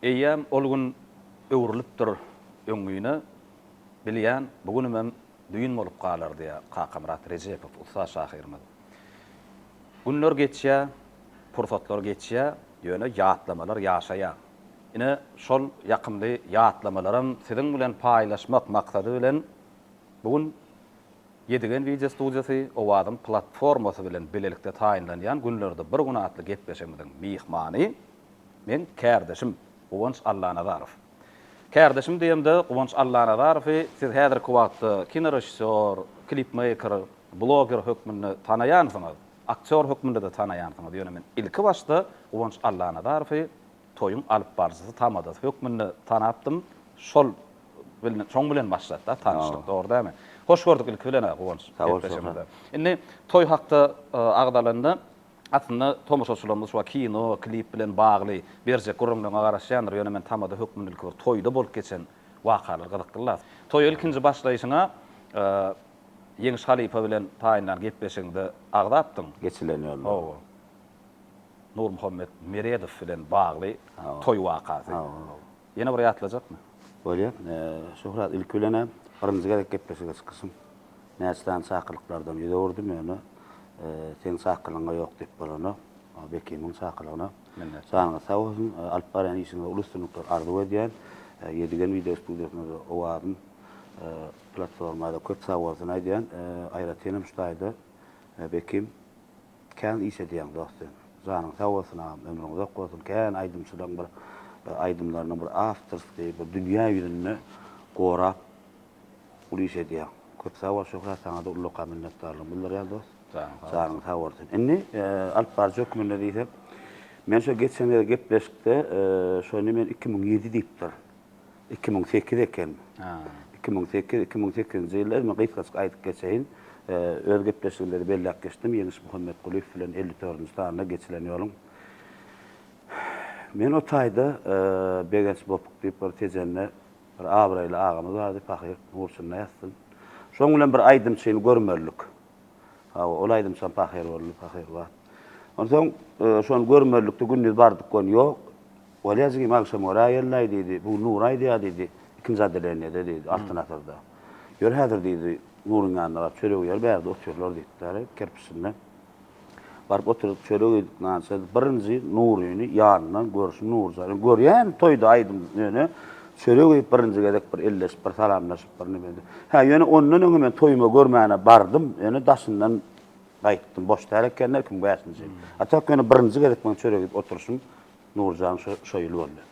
Eýýäm ol gün öwrülipdir öňňine, Bilýän, bu günümem düýn bolup galar, diýýär Kakamyrat Rejepow ussat şahyrymyz. Günler geçýär, pursatlar geçýär, ýöne ýatlamalar ýaşaýar. Ine, şol ýakymly ýatlamalaram siziň bilen paýlaşmak maksady bilen, bu gün Ýedigen wideo studiýasy Owazyň platformasy bilen bilelikde taýynlanýan Günlerde bir gün atly gepleşigimiziň myhmany meň kärdeşim Guwanç Allanazarow. Kärdeşim diýemde Guwanç Allanazarowy siz häzirki wagtda kinorežissýor, klipmeýker, bloger hökmünde tanaýansyňyz, aktýor hökmünde-de tanaýansyňyz, ýöne men ilki başda Guwanç Allanazarowy Toýuň alypbaryjysy tamadasy hökmünde tanapdym. Şol bilen, şoň bilen başlady-da tanyşlyk, dogry dälmi? Hoş gördük ilki bilen-ä, Guwanç, gepleşigimize. Indi toý hakda agzalanda, aslynda tomaşaçylarymyz şu wagt kino, klip bilen bagly berjek gürrüňleriňe garaşýandyr, ýöne men tamada hökmünde ilki bir toýda bolup geçen wakalar gyzykly-la. Toýa ilkinji başlaýşyňa Ýeňiş halypa bilen taýynlan gepleşigiňde agzapdyň. Geçilen ýollar. Hawa. Nurmuhammet Meredow bilen bagly toý wakasy. Ýene bir ýatlajakmy? Bolýar. Şöhrat, ilki bilen-ä birinji gezek gepleşige çykyşym. Näçe sany çakylyklardan ýüz öwürdim, ýöne seň çakylygyňa ýok diýip bolanok. Bekimiň çakylygyna. Minnetdar. Janyňyz sag bolsun. Alyp barýan işiňizde uly üstünlikler arzuw edýän. Ýedigen wideo studiýasyna-da, Owazym platforma-da köp sag bolsun aýdýan. Aýratynam şu taýda Bekim Kän iş edýäň dost sen. Janyň sag bolsun agam ömrüň uzak bolsun kän aýdymçylaň bir aýdymlaryny bir awtorskiý bir dünýä ýüzünde gorap uly iş edýäň köp sag bol Şöhrat saňada ullakan minnetdarlygymy bildirýän dost janyň sag bolsun indi alyp baryjy hökmünde diýsek men şo geçen gezek gepleşikde şony men iki müň ýedi diýipdirin Iki müň sekiz eken. Iki müň sekiz, iki müň sekizinji ýyllar, men gysgaçyk aýdyp geçeýin. Öz gepleşigimde de belläp geçdim, Ýeňiş Muhammetgulyýew bilen elli dördünji sanda geçilen ýoluň. Men o taýda Begenç Bopuk diýip bir Tejende bir abraýly agamyz bardy, pahyr, nurçynda ýatsyn. Şoň bilen bir aýdymçyny görmezlik. Hawa, ol aýdymçam pahyr boldy, pahyr wagt. Onsoň şony görmezlikde gündiz bardyk, göni ýok. Bolýa jigim, agşam göre aýellaý, diýdi. Bu gün Nur aýdýa, diýdi. Ikinji odelenýede, diýdi, Altyn asyrda. Ýör häzir, diýdi, Nuryň ýanyna bar, çöregi ýer, bärde otyrlar, diýipdir, kerpiçinde. Baryp oturyp, çörek iýdik, nan şeýdip, birinji Nuryny ýanyndan görşüm Nurjany görýän toýda aýdym ýöne çörek iýip birinji gezek bir elleşip, bir salamlaşyp, bir neme edip. Hä, ýöne ondan öňem men toýuma görmäne bardym, ýöne daşyndan gaýtdym. Boş däl ekenler, kim bäşinji. A tak ýöne birinji gezek meň çörek iýip oturyşym Nurjan şo ýyl boldy.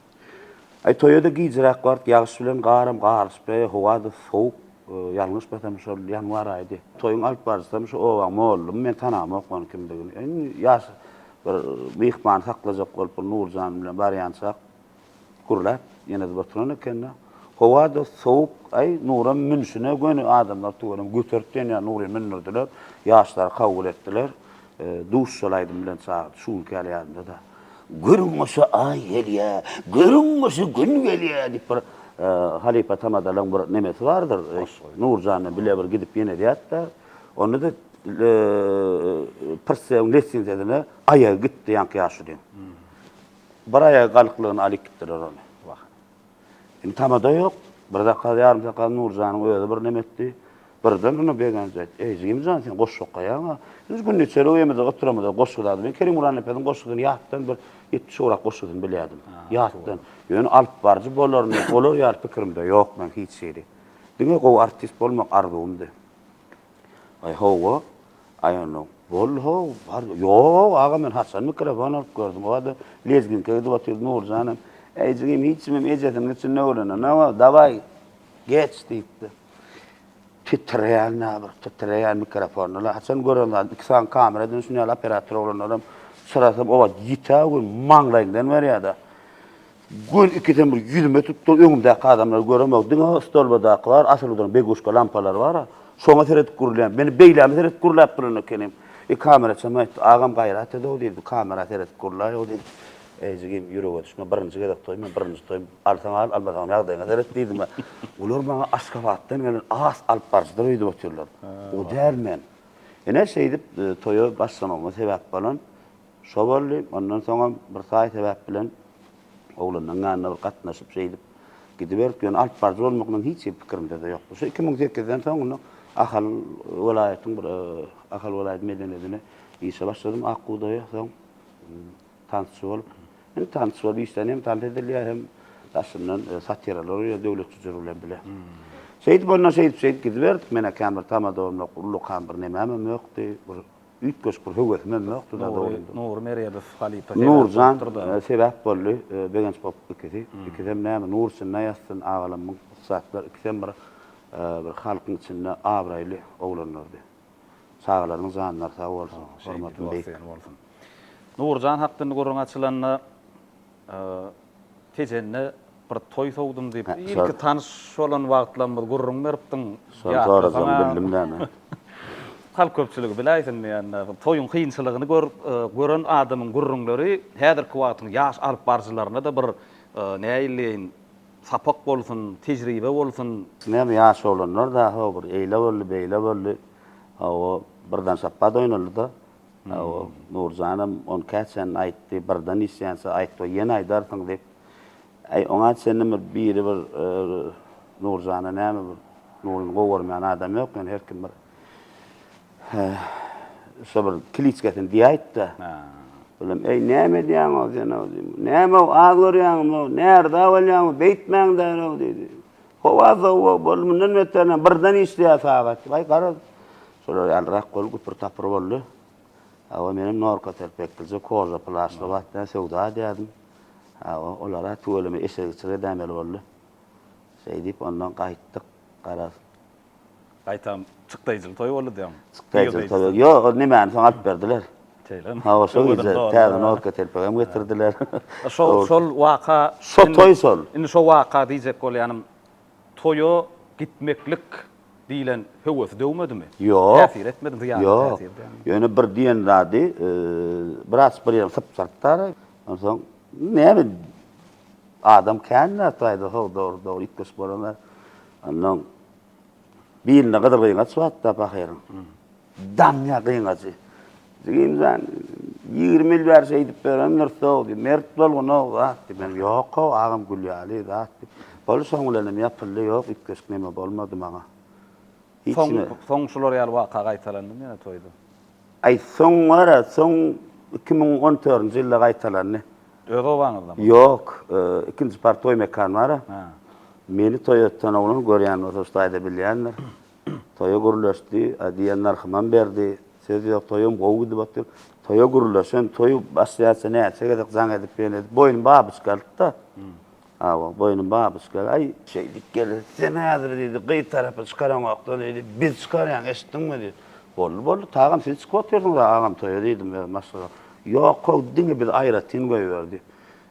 Aý toýa-da gijräk bart, ýagyş bilen garam garyşypdy, howa-da sowuk, ýalňyşmasam şol ýanwar aýydy. Toýuň alyp baryjysam şu obaň mollumy, men tanamok ony kimdigini. Indi ýaş bir myhman saklajak bolup bir Nurjan bilen barýançak gürläp ýene-de oturan ekeni. Howa-da sowuk, aý Nuram münşine göni adamlar tüweleme göterip diýen ýaly Nury mündürdiler, ýaşlary kabul etdiler. Duş şol aýdym bilen çagyrt şu günki ýaly ýadymdada. Görüň goşa aý gelýä, görüň goşa gün gelýä diýip bir halypa tamadalyň bir nemesi bardyr. Nurjanda bile bir gidip ýenedýätda. Onda-da Prsewiň lessizesine aýagy gitdi ýaňky ýaşulyň. Bir aýagy galyklygyny alyp gitdiler ony. Indi tamada ýok. Bir zakaz, ýarym zakaz Nurjanyň özi birneme etdi. Birden ony Begenç aýtdy. Eý, jigimjan, sen goşgy okaýaň-a. Biz gündiçeli öýümizde oturamyzda goşgy ýazyp, men Kerim Gurannepesiň goşgusyny ýatdan bir ýetmiş ugrak goşgusyny bilýärdim. Ýatdan. Ýöne alypbaryjy bolaryn diýip, olar ýaly pikirimde ýok meniň hiç hili. Diňe gowy artist bolmak arzuwymdy. Aý hawa, aý onda boldy how, bar, ýok aga men haçan mikrofon alyp gördüm, o wada lezginka edip otyrdy Nurjan hem, äý jigim hiç kimem ejesiniň içinde öwrenen, na bar, dawaý, geç diýipdi. Titreýän na bir, titreýän mikrofonda-la, haçan gören zat, iki sany kamera edinip şuny ýaly operator oglanlaram, çyrasam o wagt ýiti-ä o gün, maňlaýyňdan berýär-de. Göz ikisem bir ýüzüme tutdy, öňümdäki adamlary göremok, diňe stolbadaky bar, asylgydyryň beguşka lampalary bar-a, şoňa seredip gürlän. Meni beýlämi seredip gürläp duran ekenim. E, kameraçam aýtdy, Agam gaýrat ed-ow, diýdi, bu kamera seredip gürläý-ow, diýdi. Eý, jigim, ýürege düşme, birinji gezek toý men, birinji toý. Alsaň al, almasaňam ýagdaýyňa seret, diýdim-ä. Olar maňa Aşgabatdan gelen has alypbaryjydyr öýdüp otyrlar. O däl men. Ine, şeýdip, toýa başlamagyma sebäp bolan. Şo boldy. Ondan soňam bir taý sebäp bilen oglanlaryň ýanyna bir gatnaşyp şeýdip gidiberdik. Ýöne alyp baryjy bolmagynyň hiç hili pikirimde-de ýokdy. Şu iki müň sekizden soň indi Ahal welaýatyň bir Ahal welaýat medeniýetine işe başladym Ak bugdaýa. Soň tansçy bolup. Indi tansçy bolup işlän hem tans edilýär hem daşyndan satiralar goýýar Döwlet Jüjür bilen bile. Şeýdip ondan şeýdip-şeýdip gidiberdik. Menem kän bir tamadawymyň, ullukam bir nämemem ýokdy. Bir Üýtgeşik bir höwesiň hem ýokdy da dogrudan. Nury Meredow halypa sebäp Nurjan sebäp boldy, Begenç bolup ikisi. Ikisem näme, nur içinde ýatsyn agalamyň ussatlar ikisem bir bir halkyň içinde abraýly oglanlardy. Çagalarynyň janlary sag bolsun, hormatyny beýik. Nurjan hakdynda gürrüň açylanda, Tejende bir toý sowdum diýip, ilki tanyş bolan wagtlarymyz gürrüň beripdiň. Şony sorasaň bildim näme. Halk köpçüligi biläýsin diýende, toýuň kynçylygyny gören adamyň gürrüňleri häzirki wagtyň ýaş alyp baryjylaryna-da bir näleýin sapak bolsun, tejribe bolsun. Näme ýaş oglanlar dagy bir eýle boldy, beýle boldy. Hawa, birden şapbat oýnaldy-da. Nurjanam ony käçäni aýtdy, birden işýänçä aýtma, ýene aýdarsyň diýip. Äý, oňa çenli bir biri bir Nurjana näme bir Nuryny gowy görmeýän adam ýok, ýöne her kim bir şo bir kiliçkesini diýäýip-de. Bilim, äý, näme edýäň-ow sen-ow diýdim. Näme-ow, az görýäňmi-ow, närdä bolýaňmy, beýtmäň-dä-ow diýdi. Howa sowuk boldy, mundan beter näme, birden işleýär sagat. Waý, garaz, şolar ýalyrak bolup güpür-tapyr boldy. Hawa, menem Norka serpeklice koža plaşly wagtda söwda edýärdim. Hawa, olar-a tüweleme eşegiçilik edäýmeli boldy. Şeýdip, ondan gaýtdyk, garaz. Gaýtam çykdaýjyly toý boldy diýeň. Çykdaýjyly toý boldy. Ýok, ol nemäni soň alyp berdiler. Şeýlemi? Hawa, şol gije täze norka telpegem getirdiler. Şol, şol waka. Şo toý şol. Indi şo waka diýjek bolýanym, toýa gitmeklik diýlen höwesi döwmedimi? Ýok. Täsir etmedimi? Zyýany täsir edýärmi? Ýok. Ýöne bir diýen zady, biraz bir ýerim sypjyrtdar. Onsoň näme. Adam kän zat aýdar, haw dogry dogry ýitgeşik bolana. Ondan bilinde gyzyl gyňaç batda pahyryň. Damýa gyňajy. Jigim jan, ýigrimi ýyl bäri şeýdip berendir sow, diý, mert bol gunow zat, diý. Men ýok haw agam gül ýaly zat, diý. Bolup şoň bilenem ýapyldy, ýok ýitgeşik neme bolmady maňa. Hiç Soň, kime. soň şular ýaly waka gaýtalandymy ýene toýda? Aý, soň gara, soň iki müň on törünji ýylda gaýtalandy. Öz obaňyzda mı? Ýok, ikinji par toý mekan bar-a. Hä. Meni toý öten oglan görýän bolsa şu taýda bilýändir. Toýa gürleşdi, a diýen nyrhymam berdi. Söz ýok, toýam gowy gidip otyr. Toýa gürleşen, toýy başlaýança näçe gezek jaň edip, ýene edip, boýny babyçka alyp-da, Hawa, boýny babyşka, aý! Şeýdip geldi. Sen häzir, diýdi, gyz tarapy çykaraňok-da, diýdi, biz çykarýan, eşitdiňmi? diýdi. Boldy, boldy, tagam, siz çykyp otyrsyňyz-a, agam, toýa, diýdim, öz maşgala. Ýok, how, diňe biz aýratyn goýber, diýdi.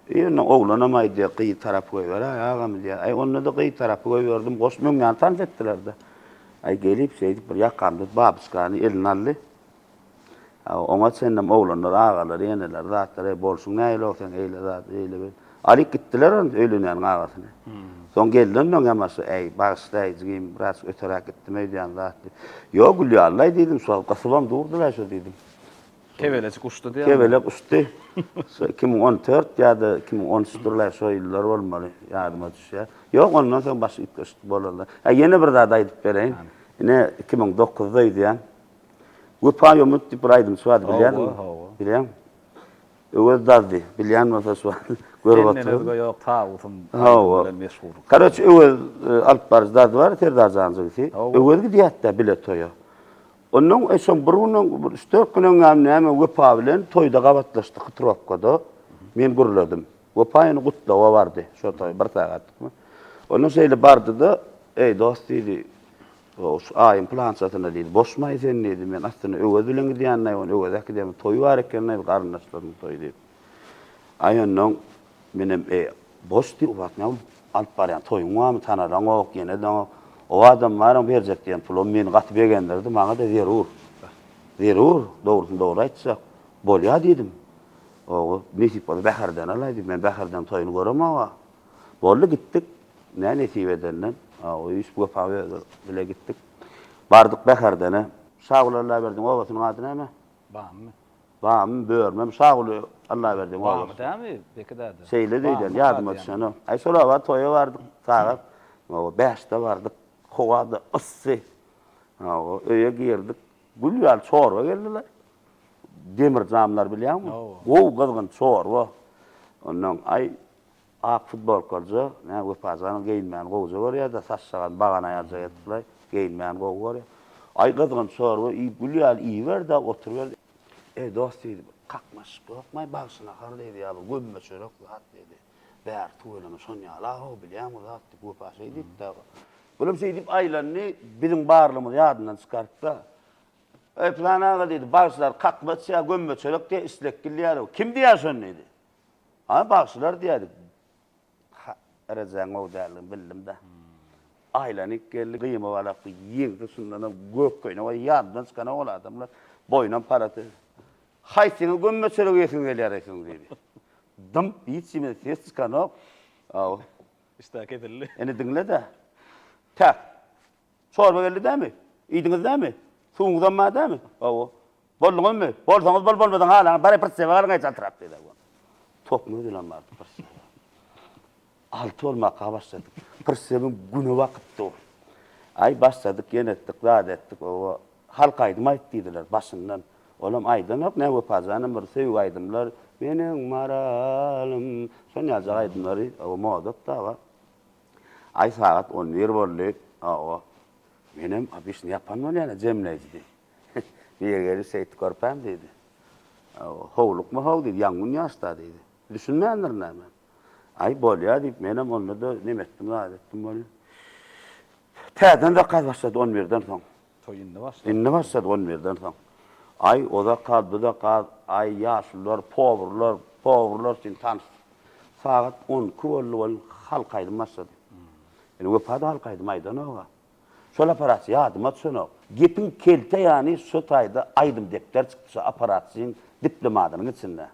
Eý, onda oglanam aýdýar, gyz tarapy goýber-aý, agam, diýýär. Aý, onda-da gyz tarapy goýberdim, goşy möňňäni tans etdiler-de. Aý, gelip, şeýdip, bir ýakamda babyşkany eline aldy. Oňa çenlem oglanlar, agalary, eneleri zatlar, Eý, bolşuň nähilog seň, eýle zat, eýle bir. Alyp gitdiler ony, öýlenýäniň agasyny. Soň geldi ondan ýamaşy, Äý, bagyşlaý, jigim, biraz öteräk gitdim öýdýän zat diýip. Ýok, Gülýallaý diýdim, şol gysybam durdy-la şu diýdim. Kebelejik uçdy diýýärmi? Kebelek uçdy. Şu iki müň on dört ýa-da iki müň on üçdir-laý, şo ýyllar bolmaly, ýadyma düşýär. Ýok, ondan soň başy üýtgeşik bolar-la. Hä, ýene bir zat aýdyp bereýin. Ine, iki müň dokuzda öýdýän. Wepa ýomut diýip bir aýdymçy bardy, bilýärdiňmi? Hawa, hawa. Bilýäň? Öwez Dazdy, bilýän bolsa şu wagt görüp otur. Senden özge ýok tabutym bilen meşhur. Garoç Öwez e, alyp baryjy Dazdy bar, Serdar Jan jigisi. Öwez gidýärdi bile toýa. Ondan e, şo bir gün, bir üç dört gün öňem näme Wepa bilen toýda gabatlaşdyk hytrokada. Men gürledim. Wepa ýene gutlawa bardy. Şo toý bir sagatdykmy. Ondan şeýle bardy-da, eý dost diýdi, Gawus, Aýym pylançasyna diýdi, Boşmaý sen diýdi, men aslynda Öwez bilen gidýänlaý, ony Öweze äkidemok, toýy bar ekenlaý, garyndaşlarynyň toýy diýip. Aý onnoň, menem, eý, Boş diý, ubat, näme alyp barýaň, toýuň barmy, tanaranok, ýene daňa oba adam baram, berjek diýen pulum meni gaty begendirdi, maňa-da zerur, zerur, dogrusyny dogry aýtjak, bolýa diýdim. Oba, nesip bolsa Bäherden alaý diýip, men Bäherden toýuny göremok-a. Boldy, gitdik. Nä nesip edende, öýüs Wepa özi bile gitdik. Bardyk Bäherdene. Şaguly Allaberdiň obasynyň ady näme? Bamy. Bamy, Börmem, Şaguly Allaberdiň obasy. Bamy dämi, Beki däde? Şeýledi öýdýän, ýadyma düşenok. Aý, şol oba toýa bardyk, sagat, hawa, bäşde bardyk. Howa-da yssy. Hawa, öýe girdik. Gül ýaly çorba geldiler. Demir jamlar bilýäňmi? Gowy gyzgyn çorba. Ondan, aý. Ak futbolkalyja nä Wepajanyň geýinmäni gowja görýärda saçjagaz bagan aýalja etdilaý geýinmäni gowy görýär. Aý gyzgyn çorba iýip gül ýaly iýiberde oturyber. Eý dos diýdi bir kakmaşyk ýokmaý bagşy nahar diýdi ýa bir gömme çörek zat diýdi. Bäri tüweleme şonýala how bilýäň bir zat diýip Wepa şeý diýipdä. Bulam şeý diýip aýlandy biziň barlygymyzy ýadyndan çykarypda. Eý pylan aga diýdi bagşylar kakmaç ýa gömme çörek diýýär islek gül ýaly kim diýýär şony diýdi. Aý bagşylar diýäýdik. Derejäň gowy däldigini bildim-de. Aýlanyp geldi, gyýma balak bu ýigdi, şundanam gök köýnek, oý ýadymdan çykanok ol adamlar. Boýunam palaty. Haýsyňyz gömme çörek iýesiňiz gelýär eýsem diýdi. Dymp, hiç kimden ses çykanok. Aw. Işdäki edildi. Indi diňle-de. Täk. Çorba geldi dämi? Iýdiňiz dämi? Suwuňyzam bar dämi? Hawa. Bolduňyzmy? Bolsaňyz bol, bolmasaň halaňyz. Baryp bir sebä galyň-aý çaltrak, diýdi Aýwaz. Tokmaz bilen bardy bir sebä. Alty bolmaka başladyk. Bir sebäň güni bakypdy ol. Aý, başladyk, ýene etdik, zat etdik. Hawa. Halk aýdym aýt diýdiler başyndan. Olam aýdanok, nä Wepa janam bir söýgi aýdymlar, Meniň Maralym, şonýaljak aýdymlary, hawa, modada bar. Aý sagat on bir boldy, hawa, menem obişni ýapan bolýan-a jemleýji diýdi. Nirä geldi şeýti körpäm diýdi. Hawa, howlukma how diýdi, ýangyn ýaşda diýdi. Düşünmändirin näme. Aý bolýa diýip menem onda-da neme etdim zat etdim bolýa. Täzeden zakaz başlady on birden soň. Toý indi başlapdyr. Indi başlady on birden soň. Aý, ozak gaz, buzak gaz, aý, ýaşulylar, powurlar, powurlar üçin tans. Sagat on iki boldy welin halk aýdymy başlady. Indi Wepa-da halk aýdymy aýdanok-a. Şol apparat ýadyma düşenok. Gepiň kelte ýany, şo taýda aýdym depder çykdy şo apparatçyň diplomadynyň içinde.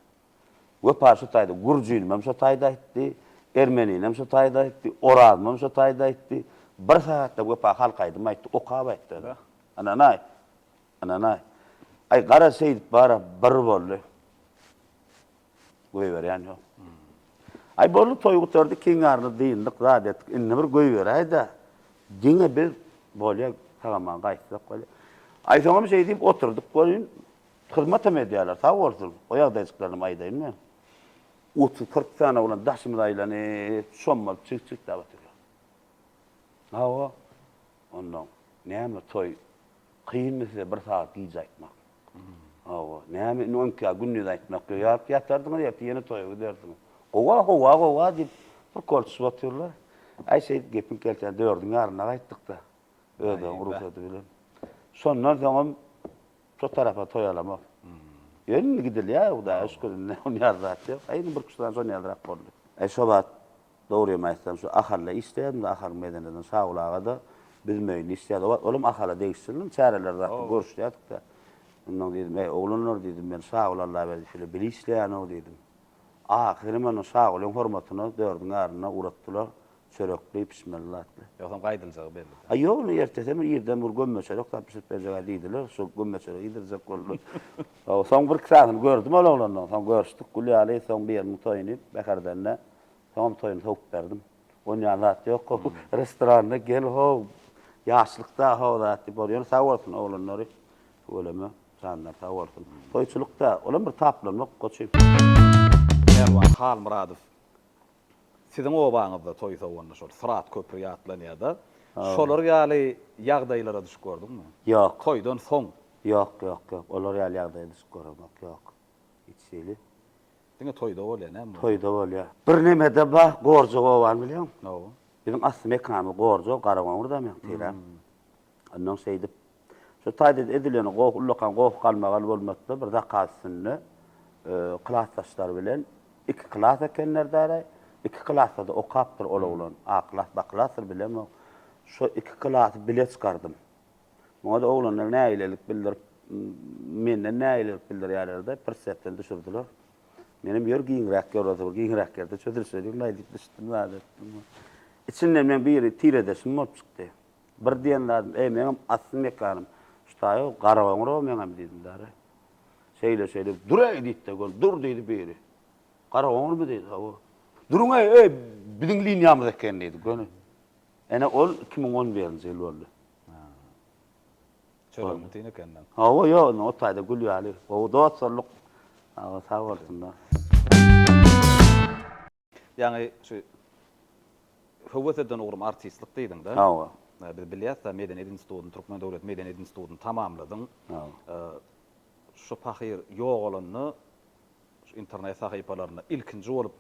Wepar şu taýda, gürjülimem şu taýda aýtdy, ermeninem şu taýda aýtdy, orazmam şu taýda aýtdy. Bir sagatda Wepa halk aýdym aýtdy, okap aýtdy ol-a. Ynanaý! Ynanaý! Aý, gara, şeýdip bar-a, bir boldy. Goýberýän ýok. Aý, boldy, toý gutardy, kiňarly dyndyk, zat etdik. Indi bir goýberäý-dä, diňe biz, bolýa, tagama gaýtsak bolýa. Aý, soňam şeýdip oturdyk welin, Hyzmatam edýärler, sag bolsun. O ýagdaýjyklarynam aýdaýyn men. Otuz-kyrk sany oglan daşymyza aýlanyp, çommalyp çigit-çigitläp oturýar. Hawa, onda näme toý? Kynmy size bir sagat gije aýtmak? Hawa, näme indi on ikä gündiz aýtmak ýok. Ýaryp ýatardyňyz, ertir ýene toýa giderdiňiz. Gowa, howa, gowa diýip, bir kolçup otyrlar. Aý, şeýdip gepiň gelşine dördüň ýarynda gaýtdyk-da, özleriň rugsady bilen. Şondan soňam Şo tarapa toýalamak. Ýöne gidilýär Hudaýa şükür indi ony ýazýak ýok. Aý indi bir küştden şon ýazrak boldy. Aý şo wagt dogrymy aýtsam şu Ahalda işleýärdim-de Ahalyň medeneden Şawul aga-da biz möýünde işleýärdik. O wagt olam Ahala degişliniň çäreleri zatda görüşýärdik-de. Ondan diýdim, Äý oglanlar diýdim men Şawul Allaberdi şeýle bile işleýän-ow diýdim. Ahyry men Şagulyň hormatyna dördiň ärine uratdylar, çörekli, pişmeli zatly. Ýogsam gaýdyljagy belli-dä. A ýok, indi ertesi hem irden bir gömme çörek zat bişirip berjeg-ä diýdiler, şol gömme çöregi iýdirjek boldular. Soň bir iki sanyny gördüm ol oglanlaryň, soň görüşdik, gül ýaly, soň biriniň toýuny Bäherdende, soňam toýuny sowup berdim. On ýan zat ýok, how, restoranda gel, how, ýaşlykda, how zat diýip, ýöne sag bolsun oglanlary, tüweleme. Janlar sag bolsun. Toýçulyk dä, olam bir taplanmak goçy. Pälwan Halmyradow siziň obaňyzda toý sowanda şol Syrat köpri ýatlanýada. Şolar ýaly ýagdaýlara düşüp gördüňmi? Ýok. Toýdan soň. Ýok, ýok, ýok. Olar ýaly ýagdaýa düşüp göremok, ýok. Hiç hili. Diňe toýda bolýa näme bolsa. Toýda bolýa. Bir nemede ba, Gorjog obany bilýäňmi? Biziň asly mekanymyz Gorjog, Garagoňur dämi, ýa-da Teýran. Ondan şeýdip, şu taýda edilen goh, ullakan goh-galmagal bolmasa-da, bir zakaz üstünde klasdaşlary bilen iki klas ekenler-dä-aý. Iki klasda-da okapdyr ol oglan. A klas, B klasdyr, bilemok. Şo iki klasy bile çykardym. Muňa-da oglanlar nägilelik bildirip, menden nägilelik bildirýärler-de, pir sepden düşürdiler. Menem ýör giňräk ýor, ozal giňräk ýerde çözülişe giriň-laý diýip düşdüm, zat etdim. Içinden meň biri tiredeşim bolup çykdy. Bir diýen zadym, Eý, meňem asly mekanym şu taýy, Garagoňurow meňem diýdim däri. Şeýle-şeýle, Dur-eý! diýdi-de, göni, Dur! diýdi biri. Garagoňurmy diýdi, Hawa. Duruň-eý, eý, biziň liniýamyz eken diýdi, göni. Ene, ol iki müň on birinji ýyl boldy. Çörügiňi tiň ekenden. Hawa, ýok, indi o taýda gül ýaly. Gowy dosturlyk. Hawa, sag bolsunlar. Ýaňy şu höwes eden ugrum artistlik diýdiň-de. Hawa. Biz bilýäs-de, Medeniýet institutyny, Türkmen döwlet medeniýet institutyny tamamladyň. Hawa. Şu pahyr ýogalanda, şu internet sahypalarynda ilkinji bolup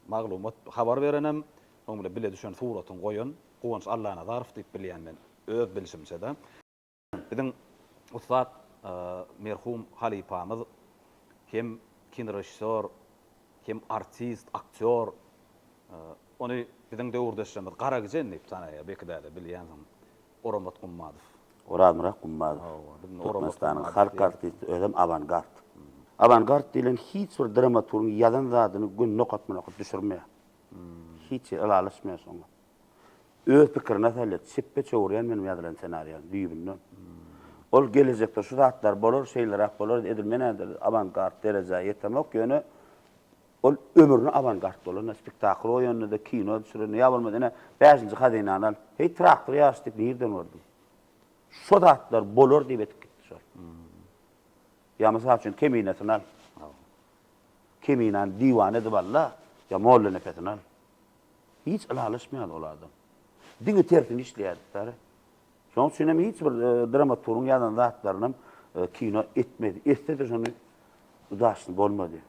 maglumat, habar berenem, soň bile bile düşen suratyňy goýan Guwanç Allanazarow diýip bilýän men, öz bilşimçe-de. Biziň ussat merhum halypamyz hem kinorežissýor, hem artist, aktýor. Ony biziň döwürdeşlerimiz Garagijen diýip tanaýar, belki-de bilýänsiň, Oramat Gummadow. Orazmyrat Gummadow, Türkmenistanyň halk artisti, özem awangard. Awangard diýlen hiç bir dramaturgyň ýazan zadyny gününe okatman okap düşürmeýär. Hiç ýeri ylalaşmaýar şoňa. Öz pikirini asalyýet çepbe çöwürýän meniň ýazylan senariýam düýbünden. Ol gelejekde şu zatlar bolar, şeýleräk bolar, edil men häzir awangard derejä ýetemok, ýöne ol ömrüne awangard bolanda, spektakl goýanda-da, kino düşürende, ýa bolmasa ine bäşinji hazynany al, heý traktor ýaryşy diýip nirden gördüň? Şo zatlar bolar diýip edip gitdi şol. Ýa mysal üçin Keminesini al. Keminäni diwan edip al-da, ýa Mollanepesini al. Hiç ylalaşmaýar ol adam. Diňe tersini işleýärdiklere. Şonuň üçin hem hiç bir dramaturgyň ýazan zatlaryny hem kino etmedi. Etse-de şony udaşny bolmady.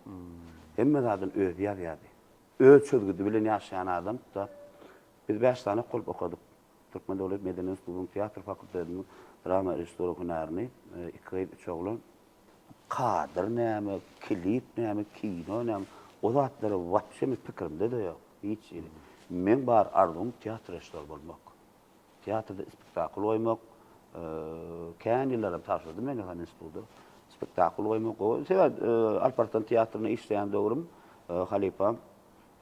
Hemme zadyny özi ýazýardy. Öz çözgüdi bilen ýaşaýan adam da. Biz bäş sany okulyp okadyk. Türkmen döwlet medeni institutynyň teatr fakultetiniň drama režissýory hünärini iki gyz, üç oglan. Kadr näme, klip näme, kino näme, o zatlar wapşe meniň pikirimde-de ýok, hiç hili. Meň bar arzuwym teatr režissýory bolmak. Teatrda spektakl goýmak, kän ýyllaram tabşyrdym men Dahan instituda. Spektakl goýmak, sebäp Alp Arslan teatrynda işleýän döwrüm halypam,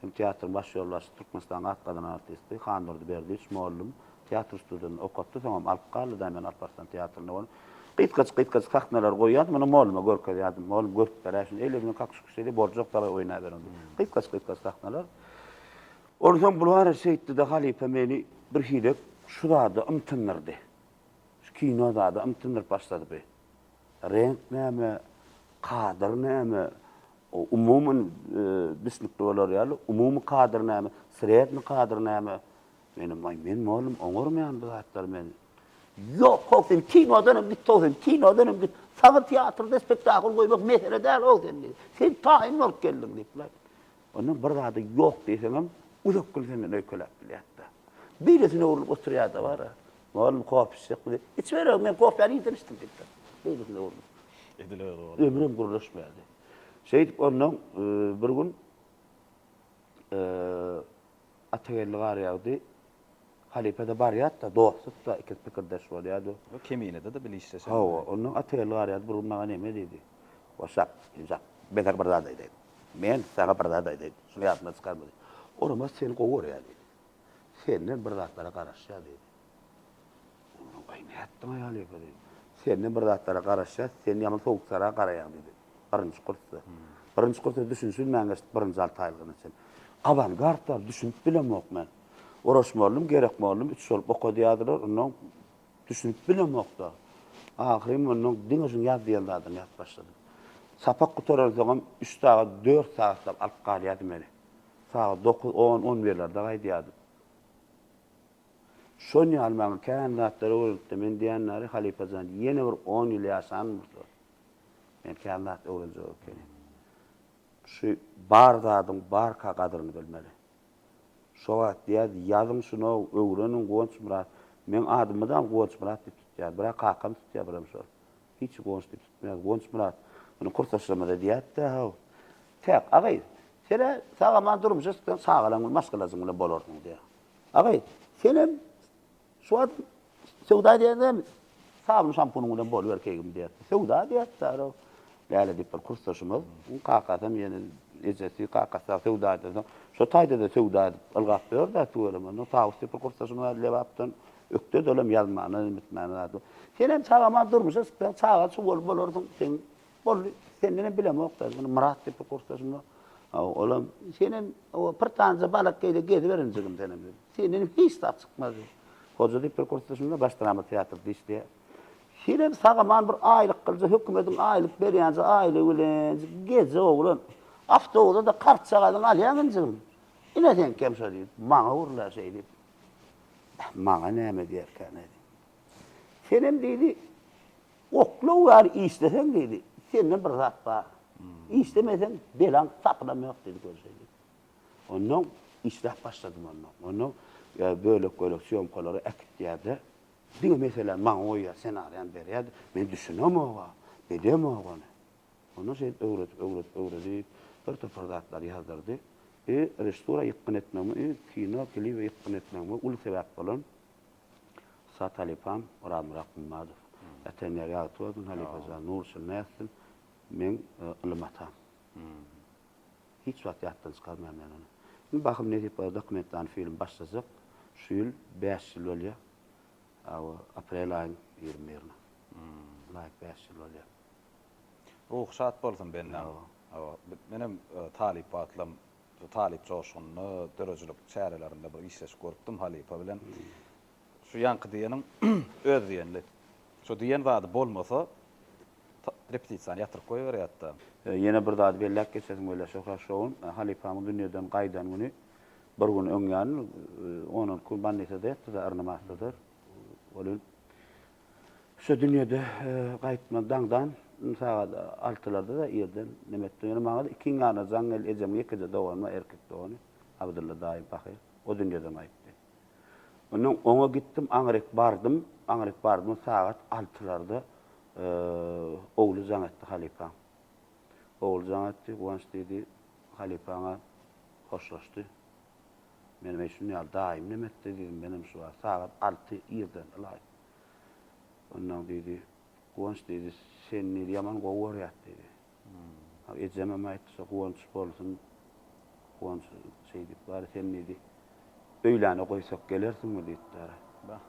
Hem teatryň baş ýolbaşçysy, Türkmenistanyň at gazanan artisti Handurdy Berdiýewiç mugallym teatr ustudyny okatdy, soňam alyp galdy daýym men Alparslan teatrynda boldum. Gysgajyk, gysgajyk sahnalary goýýardy, muny mugalluma görkezýärdim. Mugallym görüp ber-ä şuny, eýle bilen kakyş-kukyş edýär, borjy ýok dalaý oýnaberiň diýip. Gysgajyk, gysgajyk sahnalar. Onsoň bular şeýtdi-de, halypa meni birhili şu zada ymtyndyrdy. Şu kino zada ymtyndyryp başlady bi. Reňk näme, kadr näme, umuman düşnükli bolar ýaly, umumy kadr näme, sredny kadr näme. Menem, aý, men mollum, oňarym ýaly bu zatlary men. Ýok, how sen kinodan hem git, how sen kinodan hem git. Saňa teatrda spektakl goýmak mesele däl, how sen diýdi. Sen taýyn bolup geldiň diýipler. Ondan bir zada ýok diýseňem, uzak gün senden öýkeläp bilýärdi. Beýlesine öwrülip oturýardy, bara. Oglum kofe içjekmi diýip, Içiberogin, men kofäni irden içdim diýipdir. Beýlesine urnup. Edil özi boldy. Ömrem gürleşmedi. Şeýdip ondan bir gün Atageldi gar ýagdy. Halypa-da barýar-da, dostluk-da, ikisi pikirdeş bolýar-da. Bu Keminede-de bile işleşen. Hawa, ondan Atageldi gar ýagdy, bir gün maňa näme diýdi? Goşap, Jünjak, men saňa bir zat aýdaýyn. Men saňa bir zat aýdaýyn, şuny ýadyňdan çykarma diýdi. Oramat seni gowy görýär diýdi. Senden bir zatlara garaşýas diýdi. Ondan gaý nätdiň aýal ýeke diýdi. Senden bir zatlara garaşýas, sen ýaman sowukjara garaýaň diýdi. Birinji kursda. Birinji kursda düşünşilmän geçdi, birinji alty aýlygyna çenli. Awangard bar, düşünip bilemok men. Oraş mollum, Gerek mollum üç bolup okadýardylar, ondan düşünip bilemok-da. Ahyryn ondan diňe şuň ýaz diýen zadyny ýazyp başladym. Sapak gutaransoňam üç sagat, dört sagatlap alyp galýardy meni. Sagat dokuz, on, on birlerde gaýdýardym. Şon ýaly maňa kän zatlar öwredip-de, men diýen ýaly, halypa jan, ýene bir on ýyl ýaşan bolsa, men kän zat öwrenjek ekenim. Şu bar zadyň barka gadyryny bilmeli. Şo wagt diýerdi, Ýazyň şunow, öwreniň, Guwançmyrat. Meň adymydam Guwançmyrat diýip tutýar. Birä kakam tutýar, birem şol. Hiç Guwanç diýip tutmaýar. Guwançmyrat. Muny kursdaşlarymyza diýäýip-de, haw, Täk, agaý, sen-ä sag-aman durmuşa çyksaň, çagalaň bilen, maşgalajyň bilen bolarsyň, diýýär. Agaý, senem şu wagt söwda edýäň dämi? Sabun-şampunyň bilen boluber keýgim, diýýär. Söwda, diýýär, Saro. Läle diýip, bir kursdaşymyz, onuň kakasam ýene, ejesi, kakasy dagy söwda edýär. Soň şo taýda-da söwda edip, ylgap ýör-dä, tüweleme. Ondan Tawus diýip bir kursdaşym bar, Lebapdan. Ökde-de olam ýazmana, iýmitmäne zady. Senem sag-aman durmuşa çyksaň, çagaly-çugaly bolarsyň, seň Boldy, sendenem bilemok da, muny Myrat diýip bir kursdaşym bar. Haw, olam, senem o bir tanja balak geýde geziber injigim senem diýdi. Sendenem hiç zat çykmaz diýdi. Hoja diýip bir kursdaşym bar, baş drama teatrda işleýär. Senem sag-aman bir aýlyk gylja, hökümediň aýlyk berýänje aýlygy bilen gije oglan awtobusda-da kartjagazyňy alýaň injigim. Ine seňkem şo diýdi. Maňa ur-la şeý diýip. Maňa näme diýerkäne diýdim. Senem diýdi, Oklaw ýaly işleseň diýdi, sende bir zat bar. Işlemeseň belaň tapynam ýok diýdi görjeýin. Onnoň işläp başladym onda. Onda bölek-bölek sýomkalary äkitýärdi. Diňe meseläni maňa goýýar, senariýany berýärdi. Men düşünemog-a, bilemog ony. Onda şeýdip öwredip, öwredip, öwredip bir topar zatlary ýazdyrdy. Režissura ýykgyn etmegime, kino, klibe ýykgyn etmegime uly sebäp bolan Sat halypam, Orazmyrat Gummadow. Ata-enem ýary ýagty bolsun, halypa jan, nur içinde ýatsyn. Meň ylym atam. Hiç wagt ýatdan çykarmaýan men ony. Indi bahym nesip bolsa dokumentalny film başlajak. Şu ýyl bäş ýyl bolýa. Aw, aprel aýyň ýigrimi birine. Laýyk bäş ýyl bolýa. Ruhy şat bolsun bennaň. Menem talyp wagtlam Şu talyp joşgunly döredijilik çärelerinde bir işleşik görüpdim halypa bilen. Şu ýaňky diýeniň öz diýenli. Şu diýen zady bolmasa, repetisiýany ýatyryp goýberýärdi-de. Ýene bir zady belläp geçesim gelýär, Şöhrat şoun halypamyz dünýeden gaýdan güni bir gün öňýan, on-on iki gün bannisada ýatdy-da, yrnymastdyr. Welin, Şu dünýede gaýtma daňdan sagat altylarda-da irden neme etdim. Ýöne maňa-da ikiň ýanyna jaň geldi. Ejemiň ýekeje dogany bar, erkek dogany. Abdylla daýy pahyr. O dünýeden gaýtdy. Ondan oňa gitdim, aňryk bardym. Aňryk bardym, sagat altylarda ogly jaň etdi halypaň. Ogly jaň etdi, Guwanç diýdi, halypaňa hoşlaşdy. Menem eý şun ýaly daýym näme etdi diýdim, menem şu wagt sagat alty irden ylaýt. Ondan diýdi, Guwanç diýdi, seni diýdi ýaman gowy görýäs diýdi. Hak ejemem aýtdy şo Guwanç bolsun, Guwanç şeý diýip bary sen diýdi, öýläne goýsak gelersiňmi diýipdir. Bah.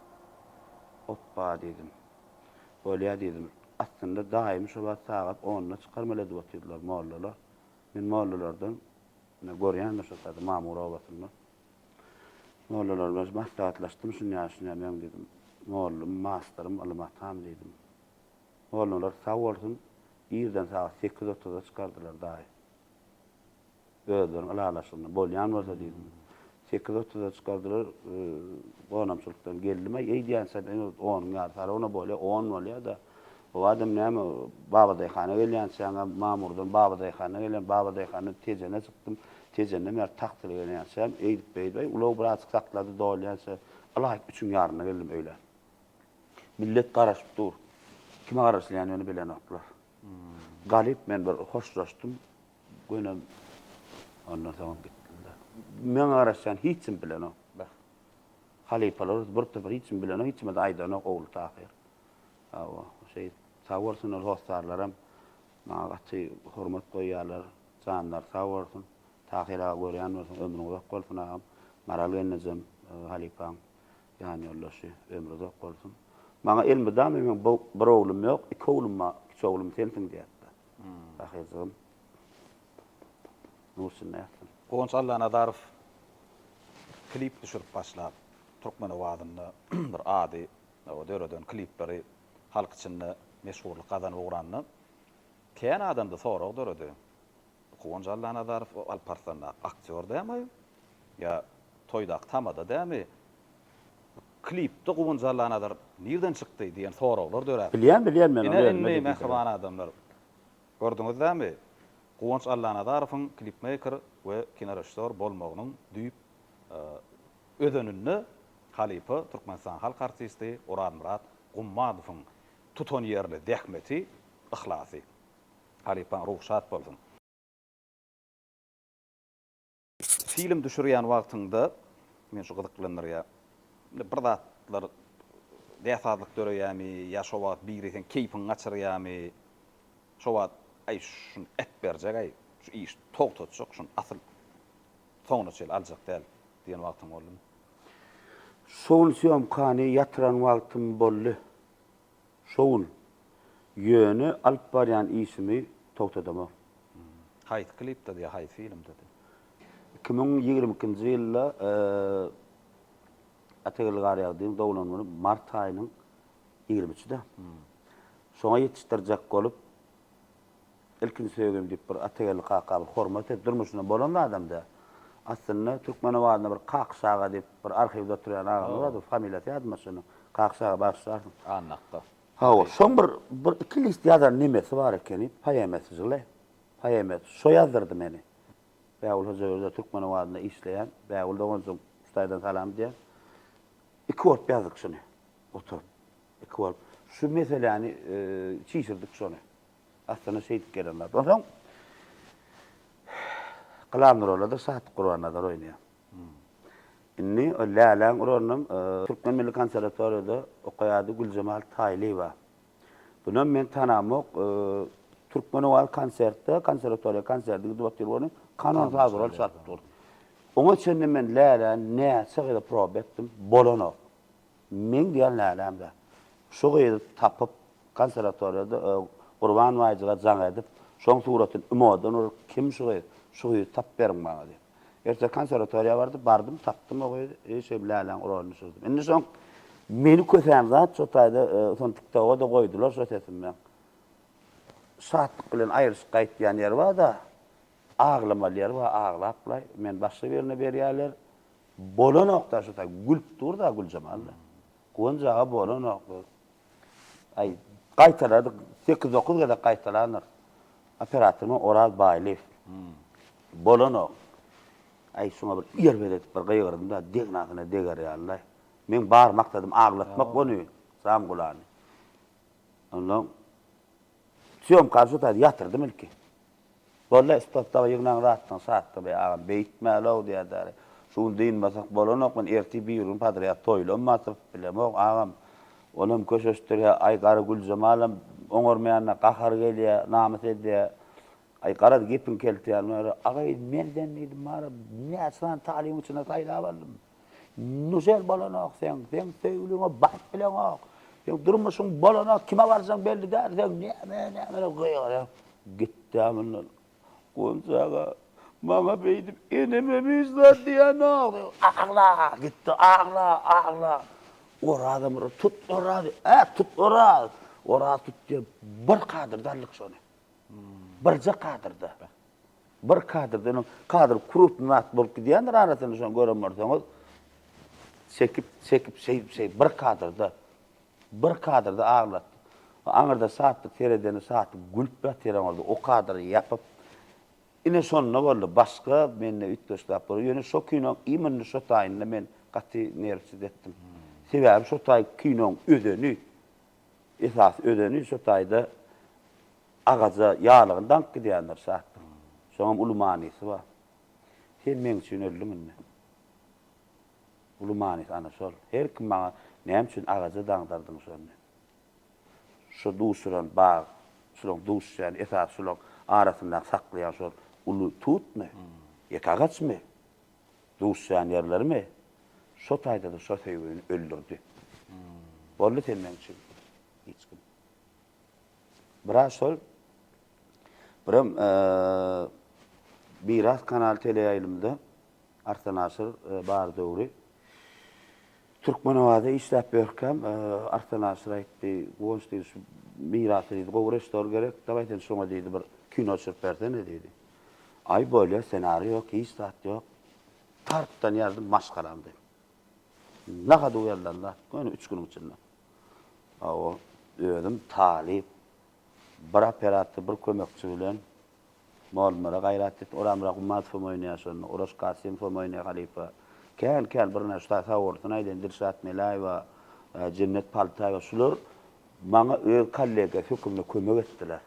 Opba diýdim. Bolýa diýdim. Aslynda daýymy şo wagt sagat onda çykarmaly edip otyrdylar mollalar. Men mollalardan Ine, görýäňmi şo sady Mamur obasynda. Mollalar bilen maslahatlaşdym, şunýa, şunýa meň diýdim, mollum, masterym, ylym atam diýdim. Mollalar sag bolsun, irden sagat sekiz otuza çykardylar daýy. Özleriň ylalaşygynda bolýan bolsa diýdim. Sekiz otuza çykardylar, gonamçylykdan geldim, aý, eýdýänsem, öňe onuň ýarysy arona bolýar, on bolýar-da. Bu adam näme, babadaýhana gelýänçäňem, Mamurdan babadaýhana gelýän, babadaýhandan Tejene çykdym, Tejenden bäri Tagtyla gelýänçäm, eýdip-beýdip, aý, ulag birazjyk saklady, dolýança, ylaýt üçüň ýaryna geldim öýlän. Millet garaşyp dur. Kime garaşylýanyny bilenoklar. Galyp men bir hoşlaşdym. Gönem ondan soň gitdiler. Meň garaşýan hiç kim bilenok. Bah. Halypalarys bir topar hiç kim bilenok, hiç kime-de aýdanok ogly tahyr. Hawa, şeýdip. Sag bolsun ol hossarlaram maňa gaty hormat goýýarlar. Janlary sag bolsun. Tahyr aga görýän bolsaň, ömrüň uzak bolsun agam. Maral gelnejem halypaň ýanýoldaşy, ömri uzak bolsun. Maňa elmydama meň bir oglum ýok, iki oglum bar, kiçi oglum sensiň diýýärdi. Sahyjygym. Nur içinde ýatsyn. Guwanç Allanazarow klip düşürip başlap, türkmen owazynda bir ady döreden klipleri halk içinde meşhurlyk gazanyp ugranda, kän adamda sorag döredi, bu Guwanç Allanazarow Alparslandaky aktýor dämi ýa toýdaky tamada dämi Klipde Guwanç Allanazar nirden çykdy diýen soraglar döräp. Bilýän bilýän men ony özüme diýip ýören. Ine indi mähriban adamlar gördüňiz dämi Guwanç Allanazarowyň klipmeýker we kinorežissýor bolmagynyň düýp özeninde halypa Türkmenistanyň halk artisti Orazmyrat Gummadowyň tutanýerli zähmeti, yhlasy. Halypaň ruhy şat bolsun. Film düşürýän wagtyňda meni şu gyzyklandyrýar. Indi bir zatlar näsazlyk döreýärmi ýa şo wagt biri seň keýpiňi gaçyrýarmy? Şo wagt Aý, şuny ätberjek-aý, şu işi togtatjak, şuny asyl soňuna çenli aljak däl diýen wagtyň boldumy? Şo gün sýomkany ýatyran wagtym boldy. Şowul, Ýöne alyp barýan işimi togtadamok. Haýsy klipdady ýa haýsy filmdady? Iki müň ýigrimi ikinji ýylda Atageldi Garýagdyýewiň doglan güni mart aýynyň ýigrimi üçüdi. Şoňa ýetişdirjek bolup. Ilkinji söýgim diýip bir Atageldi kakamyz hormat edip durmuşynda bolan adamda. Aslynda Türkmenabadynda bir Kakyş aga diýip bir arhiwde oturýan agamyz bardy, familiýasy ýadyma düşenok. Kakyş aga bagyşlarsyň. Annak-da. Hawa, şoň bir bir iki list ýazan nemesi bar ekeni, poemasy žile, poemasy. Şo ýazdyrdy meni. Bägül Hojaberdiýewa Türkmenabadynda işleýän. Bägül doganjygym Hudaýdan salam diýýän. Iki bolup ýazdyk şuny oturyp. Iki bolup. Şu meseläni çişirdik şony. Aslynda şeýdip gelen zat. Onsoň Gylam Nurallyda Şahyt Gurbannazar oýnaýar. Indi o Läläň rolunam Türkmen milli konserwatoriýada okaýardy Güljemal Taýlyýewa. Bunam men tanamok. Türkmenowaz konsertde, konserwatoriýa konsertde gidip otyr bolany, kanon saz rol çalyp dur. Oňa çenli men Läläni näçe gezek proba etdim, bolanok. Meň diýen läläm-le. Şu gyzy tapyp, konserwatoriýada Gurban baýjyga jaň edip, şoň suratyny imodan urup, kim şu gyz, şu gyzy tapyp beriň maňa diýip. Ertir konserwatoriýa bardy, bardym, tapdym o gyzy, eý şeýdip läläň uraryny düşürdüm. Indi şoň meni kösen zat şo taýda, soň TikToga-da goýdular şo sesimden. Şatlyk bilen aýryşyp gaýtýan ýeri bar-da. Aglamaly ýeri bar aglapla men başga birine berýärler bolanokda şusa gülüp durda Güljemal-da. Guwanç aga bolanok gyz. Aý gaýtaladyk sekiz dokuz gezek gaýtalandyr. Operatorymyz Oraz Baýlyýew. Bolanok. Aý şuňa bir erbet edip bir gygyrdym-da degnasyna deger ýaly-da. Meň bar maksadym aglatmak ony Samgulany. Onsoň. Sýomka şu taýda ýatyrdym ilki. Bolda stopdagy ýygnan zatlaň satdy beý agam beýtmälow diýädäri. Şu gün dynmasak bolanok men ertir bir gün podrýad toýlam bar sypyp bilemok agam. Onam köşeşdirýä aý gara Güljemalam oňarmaýanda gahary gelýä namys edýä. Aý garaz gepiň keltýän bary. Aga eý merden diýdim bary näçe sany talybyň içinde saýlap aldym. Güzel bolanok sen, sen söýgüliňe baryp bileňok. Sen durmuşyň bolanok, kime barjaň belli däl, sen näme, näme diýip gygyryp gitdi mundan. Gonja aga, maňa beýdip eneme hiç zat diýenok diýip agla gitdi, agla, agla. Oraza Myrat, tut Orazy, ä, tut Oraz, Oraz tut diýip bir kadyrda aldyk şony. Birje kadyrda. Bir kadrda öňem kadr krupny zat bolup gidýändir arasynda şony gören bolsaňyz çekip çekip şeýdip şeýdip bir kadrda bir kadrda aglat aňyrda satlyk seredeni satlyk gülüp ýatyr aňyrda o kadry ýapyp ine şonda boldy başga mende üýtgeşlap bolýar ýöne şo kinoň imенно şo taýynda men gaty nerwsiz etdim sebäbi şo taý kinoň özeni Esasy özeni şu taýda agaja ýalygyny daňyp gidýändir şatlygyň. Şoňam uly manysy bar. Sen meň üçin öldüň indi. Uly manysy ana şol. Her kim maňa näme üçin agaja daňdardyň şony. Şu duşuran bag, şulaň duşýan esasy şulaň arasyndaky saklaýan şol uly tutmy? Ýeke agaçmy? Duşýanýerlerimi şo taýda-da şo söýgini öldürdi. Boldy sen meň üçin hiç kim. Biraz şol Biram Miras kanaly teleýaýlymda Arslan Aşyr bar döwri Türkmenabatda işläp ýörkäm, Arslan Aşyr aýtdy, Guwanç diýdi, şu Mirasy diýdi, gowy režissor gerek, dawaý sen şoňa diýdi, bir kino düşürip bersene diýdi. Aý bolýa senary ýok hiç zat ýok. Tartdan ýazdy maşgalam diýip. Nahad uýalanda göni üç günüň içinde. Hawa özüm talyp bir operator bir kömekçi bilen molunlara gaýrat et oramyra gummatyfam oýnaýa şonda oraş kasymfam oýnaýa halypa kän kän bir näçe ta sawurdyny aýdaýyn dilşat melaýewa jennet paltaýewa şular maňa öz kollega hökümde kömek etdiler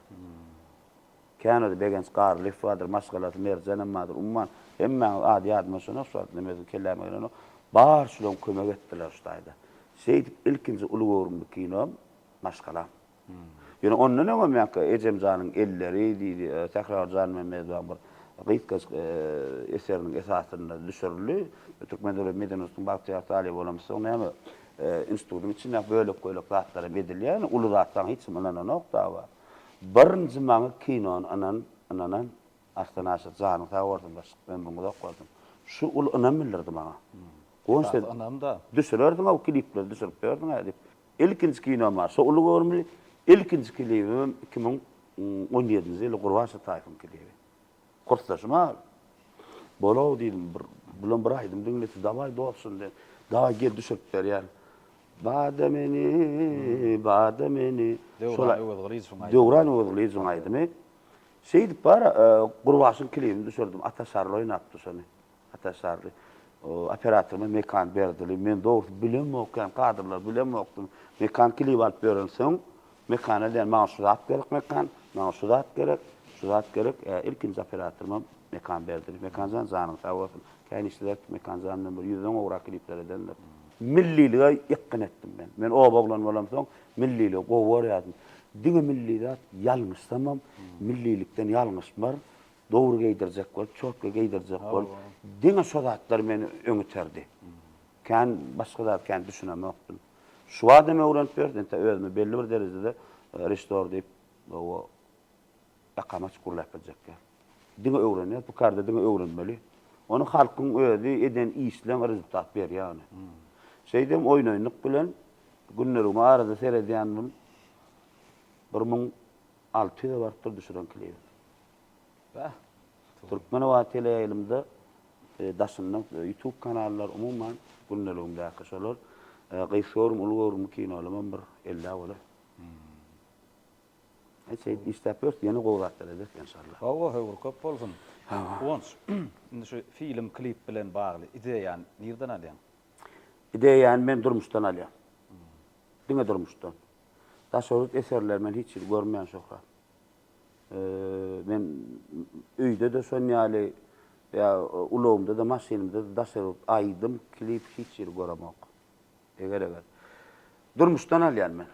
Känirdi Begenç Garlyýew bardyr, maşgalasy Merjenem bardyr, umman, hemmäňiz ady ýadyma düşenok şu wagt, neme özüm kelläme gelenok. Bar şulam kömek etdiler şu taýda. Şeýdip ilkinji uly göwrümli kinom Maşgalam. Ýöne ondan öňem ýa-ki Ejemjanyň elleri diýdi, Sähragül Janmämmedowanyň bir gysgajyk eseriniň esasynda düşürildi. Türkmen döwlet medeniýet institutynyň bagtyýar talyby bolamyz, soň näme, institutyň içindäki bölek-bölek zatlar hem edilýär, ýöne uly zatlaryň hiç kim ynananok daba. Birinji maňa kinony ynan ynanan Arslan Aşyr janyň sag bolsun başlyk ömrüň uzak bolsun şu uly ynam bildirdi maňa Gonç sen düşürerdiňow kilipleri düşürip ýördüňä diýip ilkinji kinom bar şo uly göwrümli ilkinji kilibimem iki müň on ýedinji ýyl Gurbanşa Taýypyň kilibi Kursdaşym Abi, bol-ow diýdim, bir, bilen bir aýdym diňlese, dawaý dos şindi, dawaý gel düşürip berýän. Bada meni, bada meni. Döwran Öwezgylyjowyň aýdymy. Döwran Öwezgylyjowyň aýdymy. Şeýdip bar, Gurbaşyň klibini düşürdim, Ata Şarly oýnapdy şony. Ataşarly operatorma mekan berdili. Men dogrusu bilemok, ýa kadrlar bilemokdym. Mekan kilip alyp berensoň, mekana diýen maňa şu zat gerek mekan, maňa şu zat gerek, şu zat gerek. Ilkinji operatorma mekan berdili. Mekanjan janyň sag bolsun. Käýin işleder ki, Mekanjan bilen bir ýüzden gowrak kilipler edendir. Millilige ýykgyn etdim men. Men oba oglan bolamsoň, milliligi gowy görýärdim. Diňe milli zat, ýalňyşsamam, millilikden ýalňyşmar. Dowry geýdirjek bolup, çotga geýdirjek bolup, diňe şo zatlar meni öň iterdi. Kän başga zat kän düşünemokdym. Şu adam öwrenip berdi, entä özümi belli bir derejede reştor diýip, o ýakamaç gürläp biljek däl. Diňe öwrenýär, bu karda diňe öwrenmeli. Ony halkyň özi eden işleň rezultat berýär ony. Şeýdem oýnaýynlyk bilen günlerimi arada seredýändim, bir müň alty ýüze barypdyr düşüren klibim. Türkmenobat teleýaýlymda daşynda ýutub kanallar umuman gündeligimdäki şolar gysga görüm uly görümli kinolamam bir ellä bolar. Hä şeýdip işläp ýörüs ýene gowy zatlar ederis enşallah. Hawa höwür köp bolsun. Guwanç indi şu film klip bilen bagly ideýany nirden alýaň? Ideýany men durmuşdan alýan. Diňe durmuşdan. Daşoguz eserleri men hiç ýerde görmeýän şöhrat. Men öýde-de şon ýaly ýa ulagymda-da maşynymda-da daşary aýdym, klip hiç ýeri göremok. Eger eger. Durmuşdan alýan men.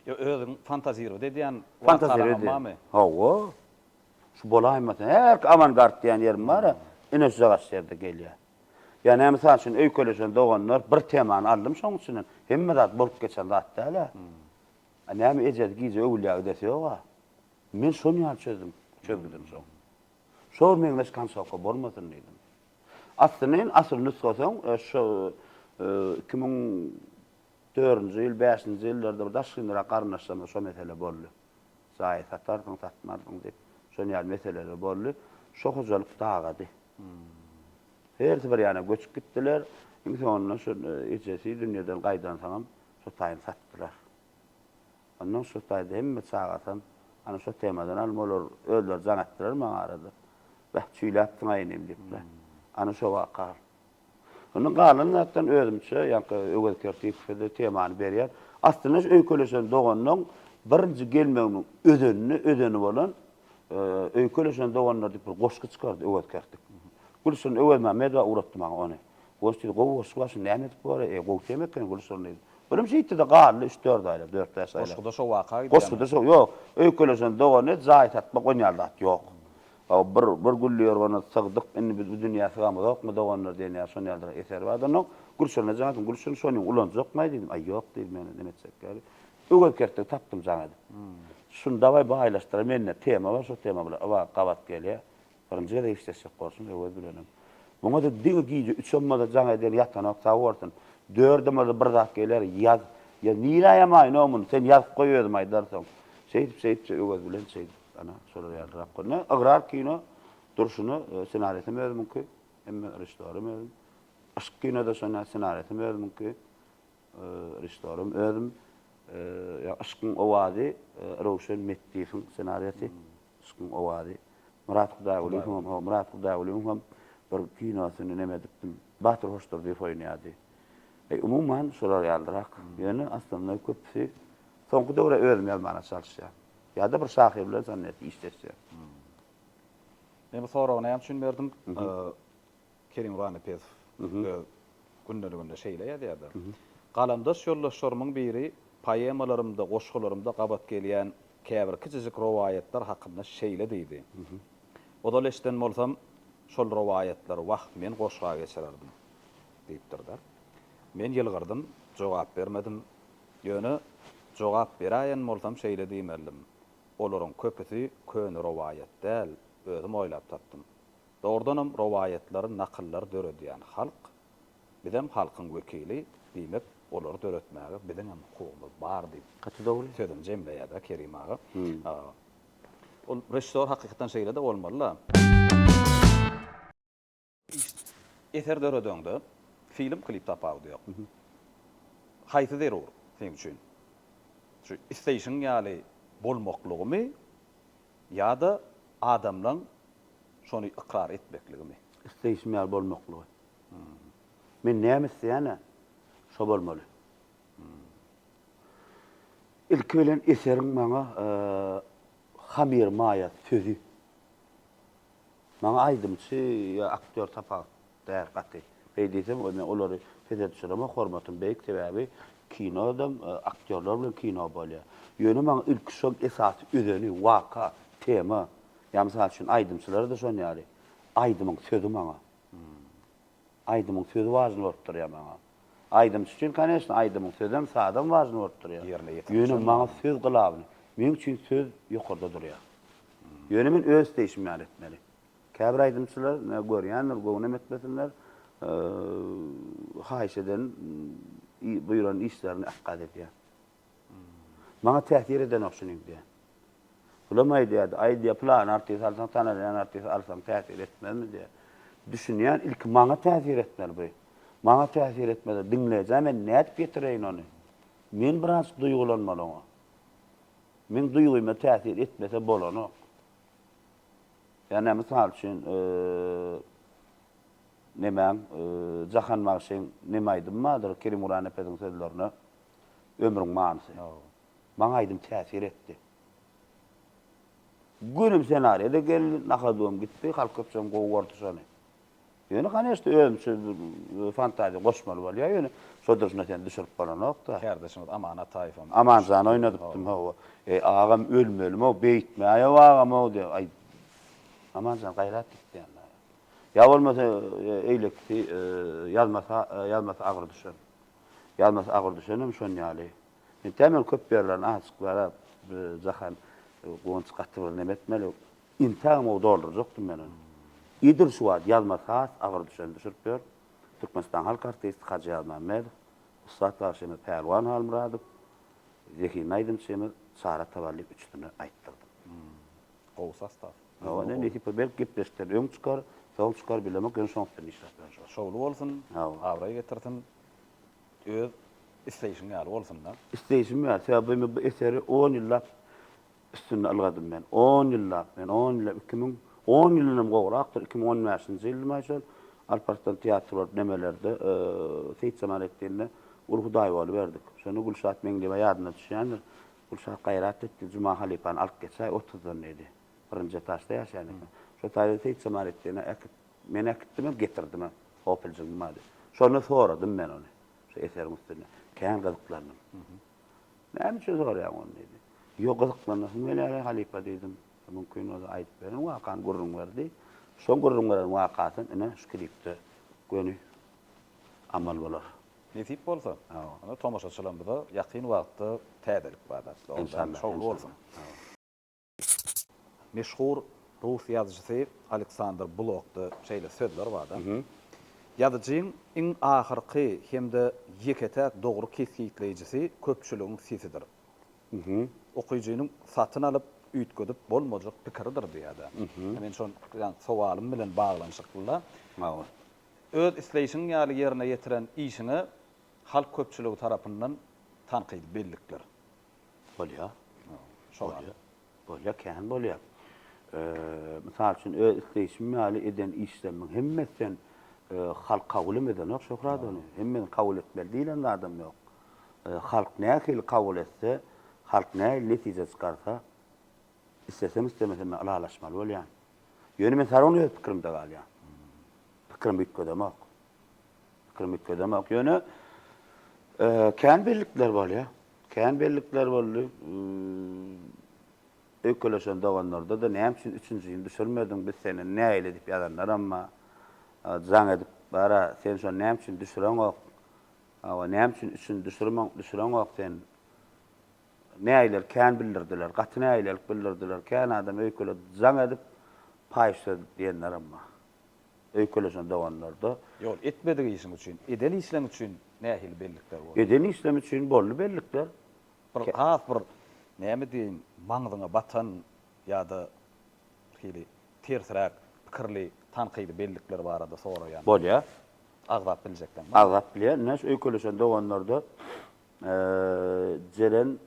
Ýa özüň fantazirowat edýän wakalaram barmy? Hawa. Şu bolaýmasa herki awangard diýen ýerim bar-a, ine şuja gaş ýerde gelýär. Ýa-ne mysal üçin öýkeleşen doganlar bir temany aldym şoň içinden hemme zat bolup geçen zat däl-ä. A näme ejesi gije öwülýä ödesi ýoga? Men şony ýaly çözdüm. Çözgüdim şo. Şo bir meňzeş konsoka bolmasyn diýdim. Aslyny in asyl nusgasyň şo iki müň dördünji ýyl, bäşinji ýyllarda bir daşynrak garyndaşlarymyz şo mesele boldy. Jaýy satarsyň, satmarsyň diýip, şon ýaly meseleler boldy. Şo hojalyk dagady. Hersi bir ýana göçüp gitdiler. Iň soňunda şu ejesi dünýeden gaýdansoňam Şu taýyny satdylar. Ondan şu taýda hemme çagasam, ana şu temadan alym olar özleri jaň etdiler maňa arada. Beh, çüýläpsiň-aý inim diýipler. Ana şu waka. Ondan galan zatdan özümçe, ýaňky Öwez Kertipow-da temany berýär. Aslynda şu öýkeleşen doganyň birinji gelmeginiň özenini, özeni bolan Öýkeleşen doganlar diýip bir goşgy çykardy Öwez Kertik. Gülşin Öwezmämmedowa ugratdy maňa ony. Goş diýdi, Gowy goşgy bar, şuny näme edip bolar? E, gowy tema eken, Güli şuny diýdi. Birnji ýitdi-de galdy, üç-dört aýlap, dört-bäş aýlap. Goşguda şo waka gidýärmi? Goşguda şo, ýok. Öýkeleşen dogany jaý satmak onýaly zat ýok. Bir, bir gülli ýorgana sygdyk, indi biz bu dünýä sygamyzokmy, doganlar diýen ýaly şon ýalydyr, eser bar-da onuň. Gülşirine jaň etdim, Gülşirin, şony ulanjakmaý diýdim. Aý, ýok diýdi, men neme etjek ýaly. Öwez kertdigi tapdym jaň edip. Şuny dawaý baýlaşdyraý, mende tema bar, şo tema bilen yba gabat gelýär. Birinji gezek işleşjek borsuň Öwez bilenem. Muňa-da diňe gije üçem-bolsa jaň eden ýatanok sag bolsun. Dördem-bolsa bir zat geler, ýaz. Ýa nirä ýamaýnoň muny, sen ýazyp goý özüm aýdarsoň. Şeýdip-şeýdipje Öwez bilen şeýdip, ana, şolar ýalyrak günler. Ygrar kino durşuna ssenariýasem özümiňki, hemme režissýorym özüm. Yşk kino-da şonda ssenariýasem özümiňki, režissýorym özüm. Ýa Yşkyň owazy Röwşen Metdiýewiň ssenariýasy. Yşkyň owazy. Myrat Hudaýgulyýewiň hem Myrat Hudaýgulyýewiň hem bir kinosyny neme edipdim. Batyr Hoşdurdyýew oýnaýardy. Eý umuman şular ýalyrak. Ýöne aslynda köpüsi soňky döwre özüm ýazmaga çalyşýan. Ýa-da bir şahyr bilen şonnet işleşýän. Men bu soragy näme üçin berdim? Kerim Ranapesow öz gündeliginde şeýle ýazýardy, Galamdaş ýoldaşlarymyň biri poemalarymda, goşgularymda gabat gelýän käbir kiçijik rowaýatlar hakynda şeýle diýdi, Ozal eşiden bolsam, şol rowaýatlary wah, men goşga geçirerdim diýipdir-de. Men ýylgyrdym, jogap bermedim. Ýöne jogap beräýen bolsam şeýle diýmelidim, Olaryň köpüsi köne rowaýat däl, özüm oýlap tapdym. Dogrudanam rowaýatlary, nakyllary döredýän halk, bizem halkyň wekili, diýmek, olary döretmäge biziňem hukugymyz bar diýip, Gaty dogry. sözüni jemleýär-de Kerim aga. Ol režissýor hakykatdan şeýle-de bolmaly-da. Eser döredeňde, film, klip tapawudy ýok. Haýsy zerur seniň üçin? Şu isteýşiň ýaly bolmaklygymy Ýa-da adamlaň şony ykrar etmekligimi? Isleýşim ýaly bolmaklygy. Men näme isleýän-ä, şo bolmaly. Ilki bilen eseriň maňa hamir maýasy, sözi. Maňa aýdymçy ýa aktýor tapawut Däl gaty. Beý diýseň we men olary pese düşüremok, hormatym beýik sebäbi kinodam aktýorlar bilen kino bolýar. Ýöne maňa ilki şol esasy özeni, waka, tema. Ýa mysal üçin aýdymçylarda şon ýaly aýdymyň sözi maňa. Aýdymyň sözi wažny bolup durýar maňa. Aýdymçy üçin koneşno aýdymyň sözem sazam wažny bolup durýar. Ýerine ýetirmek üçin. Ýöne maňa söz glawny. Meň üçin söz ýokarda durýar. Ýöne men öz isleýşim ýaly etmeli. Käbir aýdymçylar görýändir, göwnem etmesinler, haýyş eden, buýran işlerini ekgaz edýär. Maňa täsir edenok şunyň diýýär. Bulam aýdýardy, aý diýýär, pylan artist alsaň, tanalýan artist alsaň täsir etmezmi diýýär. Düşünýän, ilki maňa täsir etmeli bu. Maňa täsir etmese, diňleýjä men nädip ýetireýin ony? Men biraz duýgulanmaly oňa. Meň duýgyma täsir etmese bolanok. Ýöne mysal üçin nemäň, Jahan bagşyň neme aýdymy bardyr, Kerimguly Anepeziň sözlerine Ömrüň manysy. Maňa aýdym täsir etdi. Günüm senariýa-da geldi, nahadybam gitdi, halk köpçem gowy gördi şony. Ýöne kanyşda özümçe fantaziýa goşmaly bolýar ýöne şo durşuna sen düşürip bolanokda. Kärdeşimiz Aman Ataýewem. Amanjan oýnadypdym hawa. Eý agam ölmelimow beýtmäýow agamow diýip aý Amanjan gaýrat gitýän daýy. Ýa bolmasa eýlekisi ýazmasa ýazmasa agyr düşen. Ýazmasa agyr düşenem şon ýaly. Entägem köp ýerlerini azjyk bar Jahan Gunç gaty bir neme etmeli. Intägem-ow doldurjakdym men ony. Idil şu wagt Ýazmaz has agyr düşeni düşürip ýör. Türkmenistanyň halk artisti Hajy Ýazmämmedow, ussat bagşymyz Pälwan Halmyradow, zehinli aýdymçymyz Çara Tavalli üçüsini aýtdyrdym. Gowy sastaw. Hawa, indi nesip bolsa belki gepleşikden öň çykar, soň çykar bilemok, ýöne şoňa üstünlik işläp bilen şol. Şowly bolsun, abraý getirsin, öz isleýşiň ýaly bolsun-da. Isleýşim ýaly, sebäbi men bu eseri on ýyllap Üstünde ylgadym men. On ýyllap, men on ýyllap, iki müň, on ýylynam gowrakdyr, iki müň on bäşinji ýyldymaý şol, Alp Arslan teatry bolup nemelerde, Seýit Jemaletdinde uly hudaý boluberdik. Şonda Gülşat Meňliýewa ýadyna düşýändir, Gülşat gaýrat etdi, Juma halypany alyp geçäý otuzdan diýdi. Birinji etažda ýaşaýan eken. Şol taýda Seýit Jemaletdine äkit, men äkitdimem, getirdim-ä, hopiljigiň bady. Şonda soradym men ony, şu eseriň üstünde. Kän gyzyklandym. Näme üçin soraýaň ony? diýdi. Ýok, gyzyklanasym gelýär-ä, halypa, diýdim. Mümkin bolsa aýdyp beriň wakany, gürrüň ber, diý. Şo gürrüň beren wakasam, ine, şu klipde göni amal bolar. Nesip bolsa, onda tomaşaçylarymyza ýakyn wagtda täzelik bar zatlar. Şowly bolsun. Meşhur rus ýazyjysy Aleksandr Blokda şeýle sözler barda, Ýazyjyň iň ahyrky hem-de ýeke-täk dogry kesgitleýjisi köpçüligiň sesidir. Okyjynyň satyn alyp, üýtgedip bolmajak pikiridir diýýär-de. Men şo sowalym bilen baglanyşykly-da, öz isleýşiň ýaly ýerine ýetiren işiňe halk köpçüligi tarapyndan tankydy bellikler. Bolýar. Bolýar. Bolýar, kän bolýar. Mysal üçin, öz isleýşim ýaly eden işlerimiň hemmesi hem halk kabul hem edenok, Şöhrat, ony. Hemmesini kabul etmeli diýlen zadam ýok. Halk nähili kabul etse, halk nähili netije çykarsa, isleseň, islemeseň men ylalaşmaly bolýan. Ýöne men sargyn öz pikirimde galýan. Pikirimi üýtgedemok. Pikirimi üýtgedemok. Ýöne kän birlikler bolýar. Kän bellikler boldy. Öýkeleşen doganlarda-da näme üçin üçünji ýyl düşürmediň, biz senden nägile diýip ýazanlaram bar. Jaň edip bar-a, sen şony näme üçin düşüreňok? Hawa, näme üçin üçünji düşürmeň, düşüreňok sen? Nägilelik kän bildirdiler, gaty nägilelik bildirdiler. Kän adam öýkeledi, jaň edip, paýyş söz diýenlerem bar. Öýkeleşen doganlarda. Ýol, etmedik işiň üçin, eden işleň üçin nähili bellikler boldy? Eden işlem üçin boldy bellikler. Bir has bir, näme diýeýin, maňzyňa batan ýa-da bir hili tersräk pikirli, tankydy bellikler barada soraýan. Bolýar. Agzap biljekleň barmy? Agzap bilýän. Ine, şu öýkeleşen doganlarda Jeren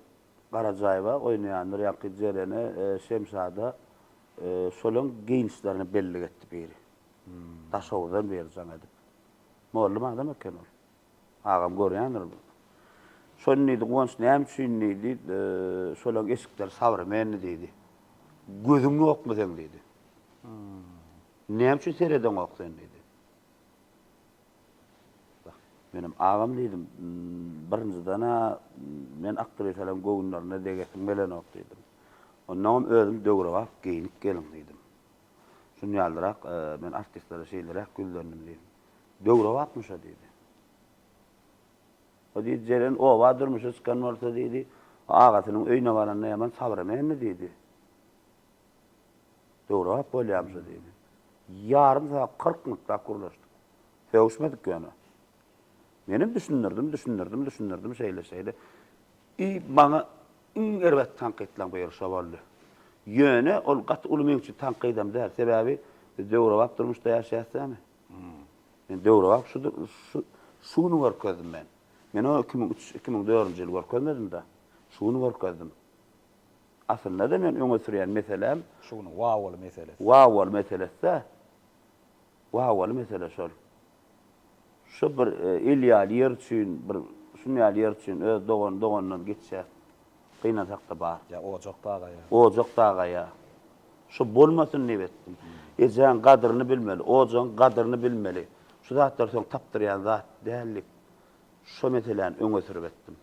Garajaýewa oýnaýandyr ýaňky Jerene Şemşada şolaň geýnişlerini bellik etdi biri. Daşoguzdan beri jaň edip. Mollum adam eken ol. Agam görýändir. Şony diýdi Guwanç näme üçin diýdi şolaň eşikleri sawremenni diýdi. Gözüň ýokmy seň diýdi. Näme üçin seredeňok sen diýdi. Menem agam diýdim. Birinjiden-ä men aktrisalarym göwünlerine degesim gelenok diýdim. Onnoňam özüm döwrebap geýinip geliň diýdim. Şunýaldyrak men artistlere şeýleräk ýüzlendim diýdim. Döwrebapmyş-a diýdi. O diýdi, Jeren oba durmuşa çykan bolsa diýdi, agasynyň öýüne baranda ýaman sabyrem endi diýdi. Döwrebap bolýamyşa diýdi. Ýarym sagat, kyrk minutläp gürleşdik. Sögüşmedik ýöne. Menem düşündirdim, düşündirdim, düşündirdim şeýle-şeýle. I maňa iň erbet tankytlaň bu ýeri şo boldy. Ýöne ol gaty uly meň üçin tankydam däl. Sebäbi biz döwrebap durmuşda ýaşaýas dämi. Men döwrebap şu şu şu güni görkezdim men. Men ony iki müň üç, iki müň dördünji ýyl görkezmedim-de. Şu güni görkezdim. Aslynda-da men öňe sürýän meseläm Şu günüň wawaly meselesi. Wawaly meselesi-dä. Wawaly mesele şol. Şu bir il ýaly ýer üçin, bir şun ýaly ýer üçin öz dogany doganyndan geçýär. Gynansak-da bar. Ýa ojak dagaýa. Ojak dagaýa. Şu bolmasyn diýip etdim. Ejäň gadyryny bilmeli, ojagyň gadyryny bilmeli. Şu zatlar soň tapdyrýan zat däldi. Şo meseläni öňe sürüp etdim.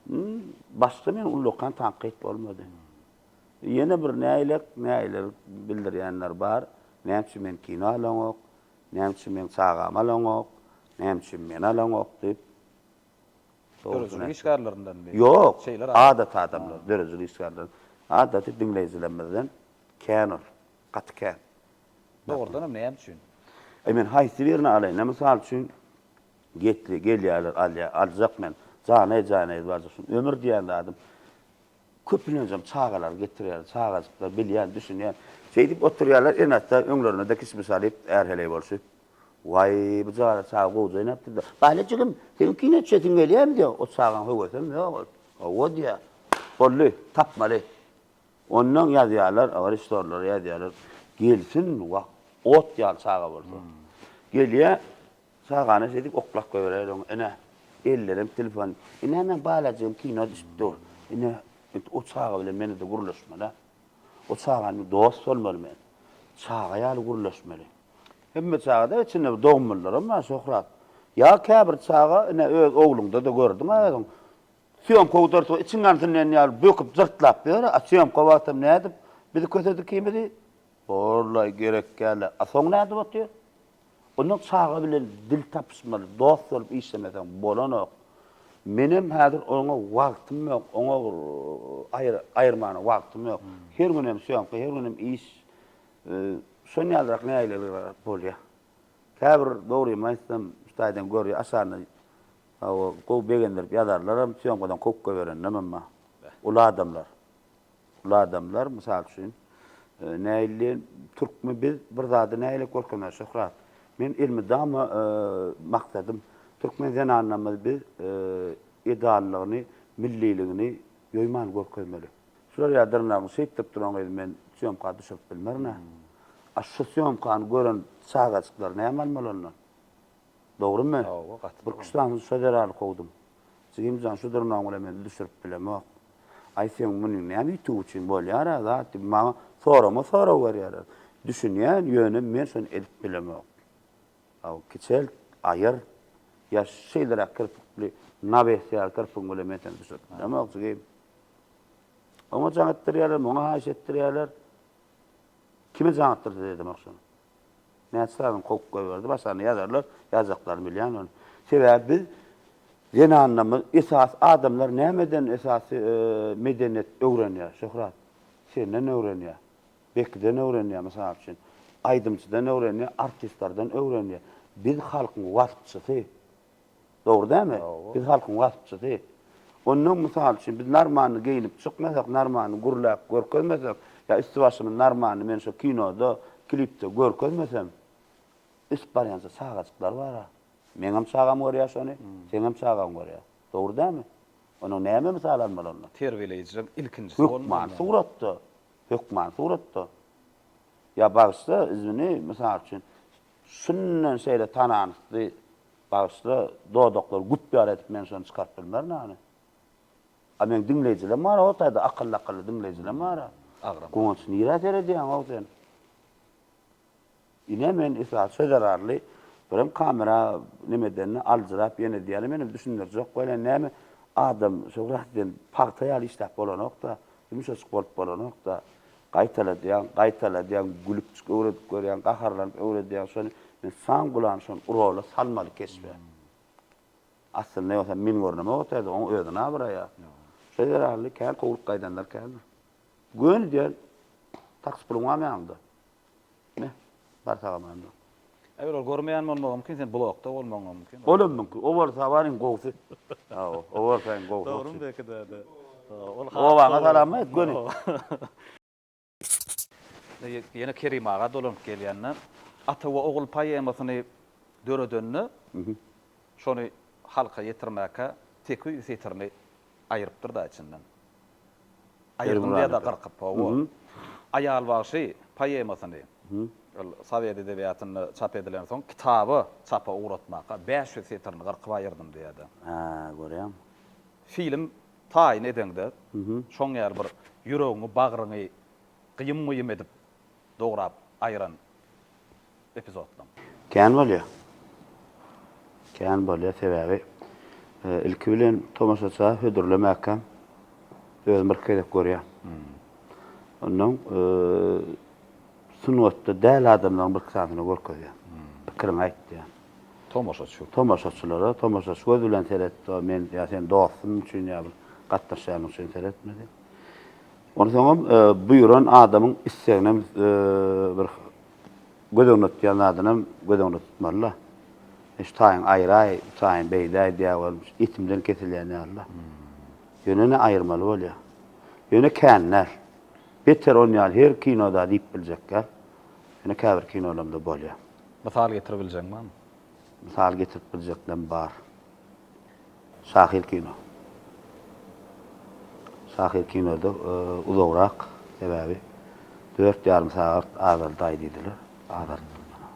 Hum, başga meni ullakan tankyt bolmady. Ýene bir näýlek, näýlek bildirýänler bar. Näme üçin men kino alaňok? Näme üçin meň çagamy alaňok? Näme üçin meni alaňok diýip. Döredijilik işgärlerinden mi? Ýok, adaty adamlar, döredijilik işgärleri. Adaty diňleýjilerimizden kän ol, gaty kän. Dogrudanam näme üçin? E men haýsy birini alaýyn? Mysal üçin, Getli, gelýärler, alýar, aljak men. Janaý, janaýyz barjak şuny. Ömür diýen zadym köplenjem çagalary getirýär, çagajyklar, bilýän, düşünýän. Şeýdip oturýarlar, ene-ata öňlerine-de kişmiş alyp, är-heleý bolşup. Waý, bu jana çaga gowja oýnapdyr-da. Baýly jigim, seniň kino düşesiň gelýärmi diýýär. O çagaň höwesem ýok ol. Hawa diýýär. Boldy, tapmaly. Onnoň ýazýarlar, režissýorlara ýazýarlar. Gelsin, wah, ot ýaly çaga bolsa. Gelýär, Çagany şeýdip oklap goýberer oň. Ine, ellerem telefon. Ine, men balajygym kino düşüp dur. Ine, indi o çaga bilen men-de gürleşmeli. O çaga bilen dost bolmaly men. Çaga ýaly gürleşmeli. Hemme çagada içinde bir dogmalylaram bar, Şöhrat. Ýa käbir çaga, ine, öz ogluňda-da gördüň-ä özüň. Sýomka udartgy içiň ýansyn diýen ýaly böküp jyrtlap ýör, a sýomka wagtam nädip bizi kösedi ikimizi? Hollaý, gerekgäl-ä. A soň nädip otyr? Onda çaga bilen dil tapyşmaly, dost bolup işlemeseň bolanok. Menem häzir oňa wagtym ýok, oňa bir aýr, aýyrmana wagtym ýok. Her günem sýomka, her günem iş. Şon ýalyrak nägilelikler bolýar. Käbir dogrymy aýtsam, şu taýdan görýär, aşagynda gowy begendirip ýazarlaram, sýomkadan kökge bereninem hem bar. Uly adamlar. Ol adamlar, mysal üçin, näilli türkmi biz bir zady näile görkezer Şöhrat? Men elmydama maksadym, türkmen zenanlarymyz biz edalylygyny, milliligini ýoýman görkezmeli. Şular ýa dyrnagyň şeýtdip duran gyz men sýomka düşürip bilmerin-ä. A şu sýomkany gören çagajyklar näme almaly ondan? Dogrymy? Bir küştdamsyny şo zerarly kowdum. Jigimjan şu durnagyň bilen men düşürip bilemok. Aý seň muny näme ýitigi üçin bolýar-a zat diýip maňa sorama sorag berýärler. Düşünýän, ýöne men şony edip bilemok. Hawa, kiçelt, aýyr. Ýa şeýleräk kirpikli nawes ýaly kirpigiň bilen men seni düşürip bilemok jigim. Oňa jaň etdirýärler, muňa haýyş etdirýärler. Kime jaň etdirse-de edemek şony. Näçe sazyn kowup goýberdi, başarny ýazarlar, ýazjaklaryn bilýän ony. Sebäbi biz zenanlarymyz esas adamlar nämeden esasy medeniýet öwrenýär Şöhrat? Senden öwrenýär. Bekiden öwrenýär mysal üçin. Aýdymçydan öwrenýär, artistlardan öwrenýär. Biz halkyň waspçysy. Dogry dämi? Biz halkyň waspçysy. Onnoň mysal üçin biz narmandy geýinip çykmasak, narmandy gürläp görkezmesek, ýa üsti-başymyz narmandy men şo kinoda, klipde görkezmesem, ösüp barýança çagajyklar bar-a. Meňem çagam görýär şony, seňem çagaň görýär. Dogry dämi? Onnoň näme mysal almaly ondan? Terbiýeleýjileň ilkinjisi bolmaly. Hökman suratda. Hökman suratda. Ýa bagyşla, izwini, mysal üçin, Şundan şeýle tananysdy, bagyşla, dodaklary güpbär edip men şony çykaryp bilmerin hany. A meň diňleýjilem bar-a o taýda, akylly-akylly diňleýjilem bar-a. Agram. Guwanç, nirä seredýäň-ow sen? Ine, men esasy söz zerarly, birem kamera neme edende aljyrap ýene edýärin, menem düşündirjek welin näme, adam şo rahat eden pagta ýaly işläp bolanok-da, Ýumşajyk bolup bolanokda. Gaýtaladýaň, gaýtaladýaň, gülüpjik öwredip görýäň, gaharlanyp öwredýäň, şony men san gulany şony urola salmaly keşbe. Aslynda ýogsam men görneme otyrdym, oň özüni abraýa. Şo zerarly kän kowlup gaýdanlar kändir. Göni diýen taks puluň barmy ýanyňda? Hä? Bar sagaman dur. Eger ol görmeýän bolmagy mümkin, sen blokda bolmagyň hem mümkin. Olam mümkin. O bolsa bar iň gowusy. Hawa, o bolsa iň gowusy. Dogrymy belki däde. Ol has. Obaňa salam aýt göni. Ýene Kerim aga dolanyp gelýände, Ata we ogul poemasyny döredende, şony halka ýetirmäkä tekiz setirini Aýrypdyr-da içinden. Aýyrdym diýer-de gyrkyp, hawa. Aýal bagşy poemasyny ol sowet edebiýatynda çap edilensoň kitaby çapa ugratmaka bäş ýüz setirini gyrkyp aýyrdym diýer-de. Hä, görýäňmi? Film taýyn edeňde, şoň ýaly bir ýüregiňi, bagryňy gyýym-gyýym edip dograp aýyran epizodlaň. Kän bolýa. Kän bolýa sebäbi ilki bilen tomaşaça hödürlemäkäm özüm birki gezek görýän. Ondan sungatda däl adamlaryň birki sanysyna görkezýän. Pikiriňi aýt diýýän. Tomaşaçy. Tomaşaçylara, tomaşaçy göz bilen seret, men ýa sen dostuň üçin ýa bir gatnaşýanyň üçin seretme diýip. Onsoňam buýran adamyň isleginem bir göz öňüne tutýan zadynam göz öňüne tutmaly-da. Şu taýyň aýraý, bu taýyň beýdäý diýýär welin, etimden kesilýän ýaly-da. Ýöne-de aýyrmaly bolýar. Ýöne kän däl. Beter on ýaly her kinoda diýip biljek däl. Ýöne käbir kinolarymda bolýar. Mysal getirip biljegiň barmy? Mysal getirip biljeklerem bar. Şahyr kino. Şahyr kinoda uzagrak, sebäbi dört ýarym sagat azaldaý diýdiler. Azaltdym ýöne.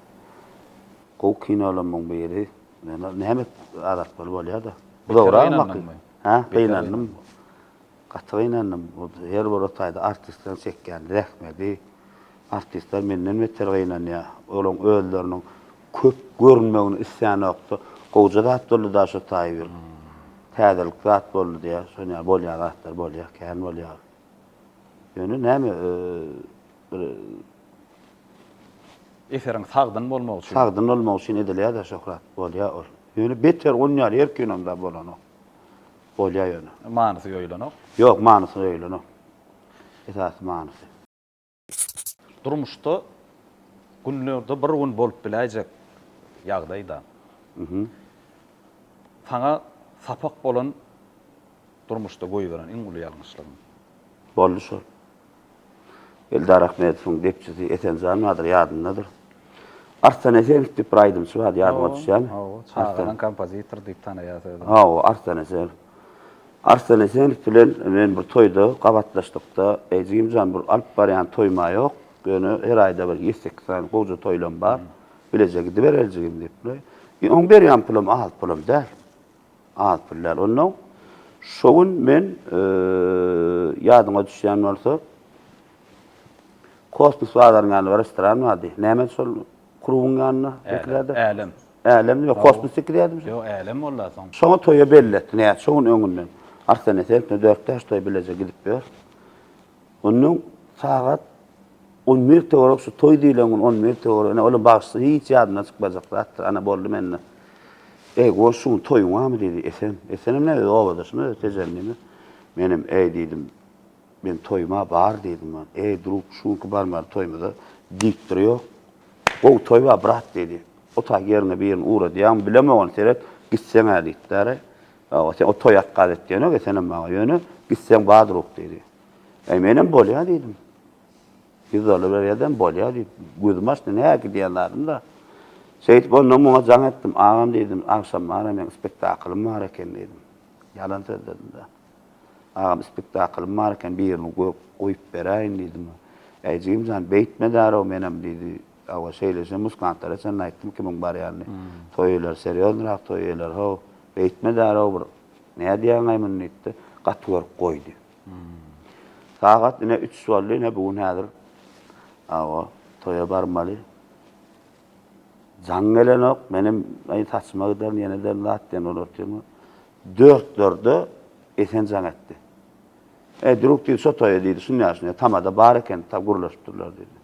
Gowy kinolarymyň biri. Ýöne näme azaltmaly bolýar-da. Uzagrak. Hä, gynandym. Gaty gynandym. Her bir taýda artistleriň çekýän zähmeti. Artistler menden beter gynanýar. Olaryň özleriniň köp görünmegini islänokdy. Gowja zat boldy-da şu taý bir. Täzelik zat boldy diýýär. Şony ýaly bolýan zatlar bolýar, kän bolýar. Ýöne näme, bir. Eseriň sagdyn bolmagy üçin. Sagdyn bolmagy üçin edilýär-de şöhrat. Bolýar ol. Ýöne beter onuň ýaly her kinomda bolanok. Bolýar ýöne. Manysy ýoýulanok. Ýok, manysy ýoýulanok. Esasy manysy. Durmuşda günlerde bir gün bolup biläýjek ýagdaýda saňa sapak bolan durmuşda goýberen iň uly ýalňyşlygyň. Boldy şol. Eldar Ahmedowyň depçisi Esenjan bardyr, ýadyndadyr. Arslan Esenow diýip bir aýdymçy bardy, ýadyňa düşýärmi? Hawa, çagadan kompozitor diýip tanaýarys özümizi. Hawa, Arslan Esenow. Arslan Esenow bilen men bir toýda gabatlaşdykda, Eý, jigim jan, bir alyp barýan toýuma ýok, ýöne her aýda bir ýedi-sekiz sany gowja toýlam bar, bileje gidibereli jigim diýip. Oň berýän pulam az pulam däl. Az pul däl. Onda şo gün men, ýadyňa düşýän bolsa, Kosmos bazarynyň ýanynda restoran bardy. Nämedi şol klubyň ýanynda beklerde? Älem. Älem, ýok, Kosmos sekiz ýadymjak. Ýok, Älem boldy soň. Şoňa toýa belli etdi, näçe gün öňünden. Arslan esen, Dörtde-aşda bileje gidip ýör. Onnoň sagat on bir töwerek şu toý diýlen gün on bir töwerek, ine, ol-a bagşysyň hiç ýadyndan çykmajak zatdyr, ana, boldy mende. Eý, goý, şu gün toýuňamy? diýdi Esen. Esenem näme, öz obadaşymy, öz tejendimi. Menem, Eý, diýdim, men toýuma bar diýdim bar. Eý, druk, şu günki barmaly toýumyza diktor ýok. Gowy toý bar, brat, diýdi. Otag ýeriňe birini ugradýaňmy, bilemogyn, seret, gitseň-ä diýipdir. Ýa, sen o toýa ykgal etýänok, Esenem maňa, ýöne gitseň bar, druk, diýdi. E menem bolýa diýdim. Ýüz dollar berýädem bolýa diýip, gözüm açdy, näki diýen zadym-da. Şeýdip onda muňa jaň etdim. Agam diýdim, agşam bana meň spektaklym bar eken diýdim. Ýalan sözledim-de. Agam spektaklym bar eken, birini görüp goýup beräýin diýdim. Äý jigim jan, beýtme därew menem diýdi. Awa şeýleşe muskantlara çenli aýtdym kimiň barýanyny. Toý eýler serýoznyrak toý eýler-how. Beýtme därew bir Nädýäňaý muny diýipdi. Gaty görüp goýdy. Sagat ine üç boldy, ine bu gün häzir awa toýa barmaly. Jaň gelenok, menem aý saçyma giderin, ýene ederin zat diýen ol otyrmy. Dörtlerde Esen jaň etdi. E, duruk diýdi, şo toýa diýdi, şunýa-şunýa tamada bar eken, ta gürleşipdirler diýdi.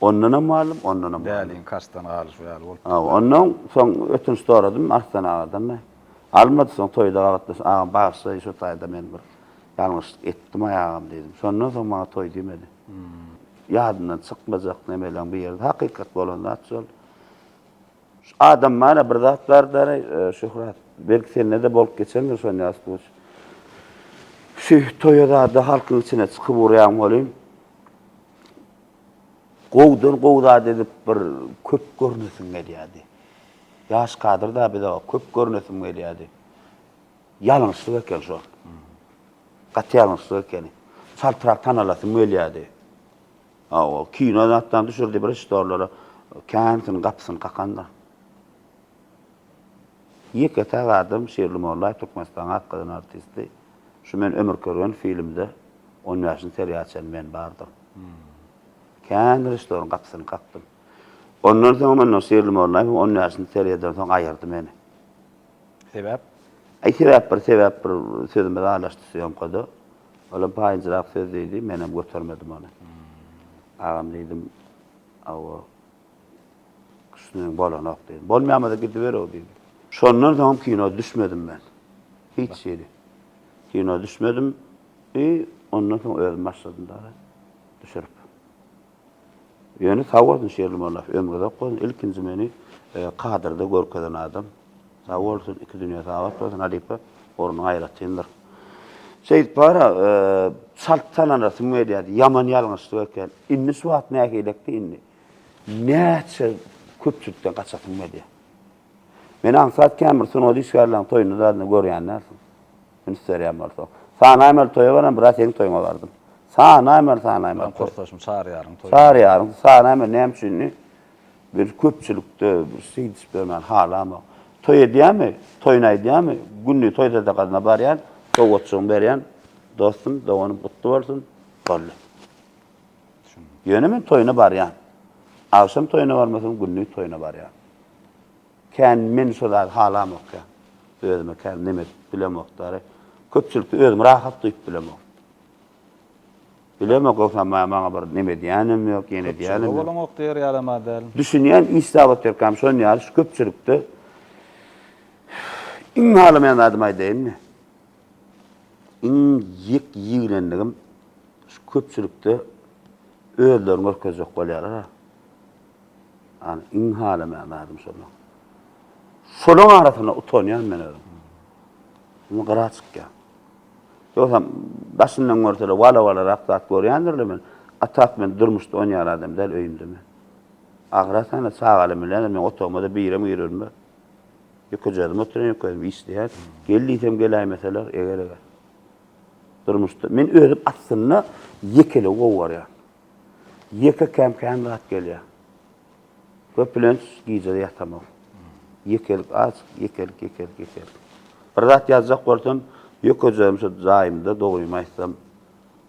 Ondanam malym, ondanam malym. Däliň kaşdan galyşy ýaly bolupdyr. Hawa, ondan soň ötünç soradym Arslan agadan-da. Almady, soň toýda gabatlaşyp, Agam, bagyşlaýyn, şu taýda men bir ýalňyşlyk etdim-aý agam diýdim. Şondan soň maňa toý diýmedi. Ýadyndan çykmajak nemeleň biri-de hakykat bolan zat şol. Şu adam bar-a, bir zat bar-da-aý, Şöhrat, belki sende-de bolup geçendir şon ýaly suwuç. Şu toýa zada halkyň içine çykyp urýaň welin, Gowudan gowy zat edip bir köp görnesim gelýärdi. Ýaş kadrda biz aga köp görnesim gelýärdi. Ýalňyşlyk eken şo. Gaty ýalňyşlyk ekeni. Çaltrak tanalasym gelýärdi. Hawa, kino zatdan düşürdi bir iş dorlara. Kän syn gapysyny kakandyr. Ýeke sag adam Şirli Mollaýew Türkmenistanyň atgazanan artisti. Şu men ömür körgen filmde on bäşinji seriýa açan men bardym. Kän režissýoryň gapysyny kakdym. Ondan soň mundan Şirli Mollaýewiň on bäşinji seriýadan soň aýyrdy meni. Sebäp? Aý sebäp bir sebäp bir sözümiz aralaşdy sýomkada. Olam paýynjyrak söz diýdi, menem götermedim ony. Agam diýdim, hawa. Üstüne bolanok diýdi. Bolmaýamada gidiberow diýdi. Şondan soňam kino düşmedim men. Hiç hili. Kino düşmedim. I ondan soň özüm başladym dagy düşürip. Ýöne sag bolsun Şerli Mollaýew, ömri uzak bolsun, ilkinji meni kadrda görkezen adam. Sag bolsun, iki dünýä sagabat bolsun halypa, ornuň aýratyndyr. Şeýdip bar-a, çalt tananasym gelýärdi, ýaman ýalňyşlyk eken. Indi şu wagt nähilekdi indi? Näçe köpçülikden gaçasyň gelýär. Meni aňsat kämir sungat işgärleriň toýunda zadna görýän dälsiň. Men üstärýän bolsa. Sanaýmaly toýa baran biraz seniň toýuňa bardym. Sanaýmaly sanaýmaly. Meniň kursdaşym Çaryýaryň toýuna. Çaryýaryň sanaýmaly näme üçindi? Bir köpçülikde bir şeýdişip ýörmäni halamok. Toý edýämi? Toýuny aýdýamy? Günde toý sadakasyna barýan, sowgatjygyňy berýän. Dostum, doganym gutly bolsun. Boldy. Ýöne men toýuna barýan. Agşam toýuna barmasam, gündiz toýuna barýan. Kän men şo zady halamokýan. Özüme kän neme edip bilemokdary. Köpçülikde özümi rahat duýup bilemok. Bilemok, ýogsam maňa bir neme edýänem ýok, ýene edýänem ýok. Köpçülik diýer ýalama däl. Düşünýän iş zat otyrkam şon ýaly şu köpçülikde iň halamaýan zadymy aýdaýynmy? Iň jik ýigrendigim şu köpçülikde özlerini görkezjek bolýarlar-a. Ýani iň halamaýan zadym şonda. Şolaň arasynda utanýan men özüm. Indi gyra çykýan. Ýogsam daşyndan görsele wala-walarak zat görýändirle men. Atap men durmuşda onýaly adam däl öýümde men. Ahyratanada çagalarym bilen men otagymada birem girermi? Ýeke jazm oturan, ýeke özüm işleýän. Gel diýsem geläýmeseler, eger-eger. Durmuşda men özüm aslynda ýekeligi gowy görýän. Ýeke käm-käm rat gelýär. Köplenç gije ýatamok. Ýekelik az, ýekelik, ýekelik, ýekelik. Bir zat ýazjak bolsam, ýeke jazm şu jaýymda dogrymy aýtsam,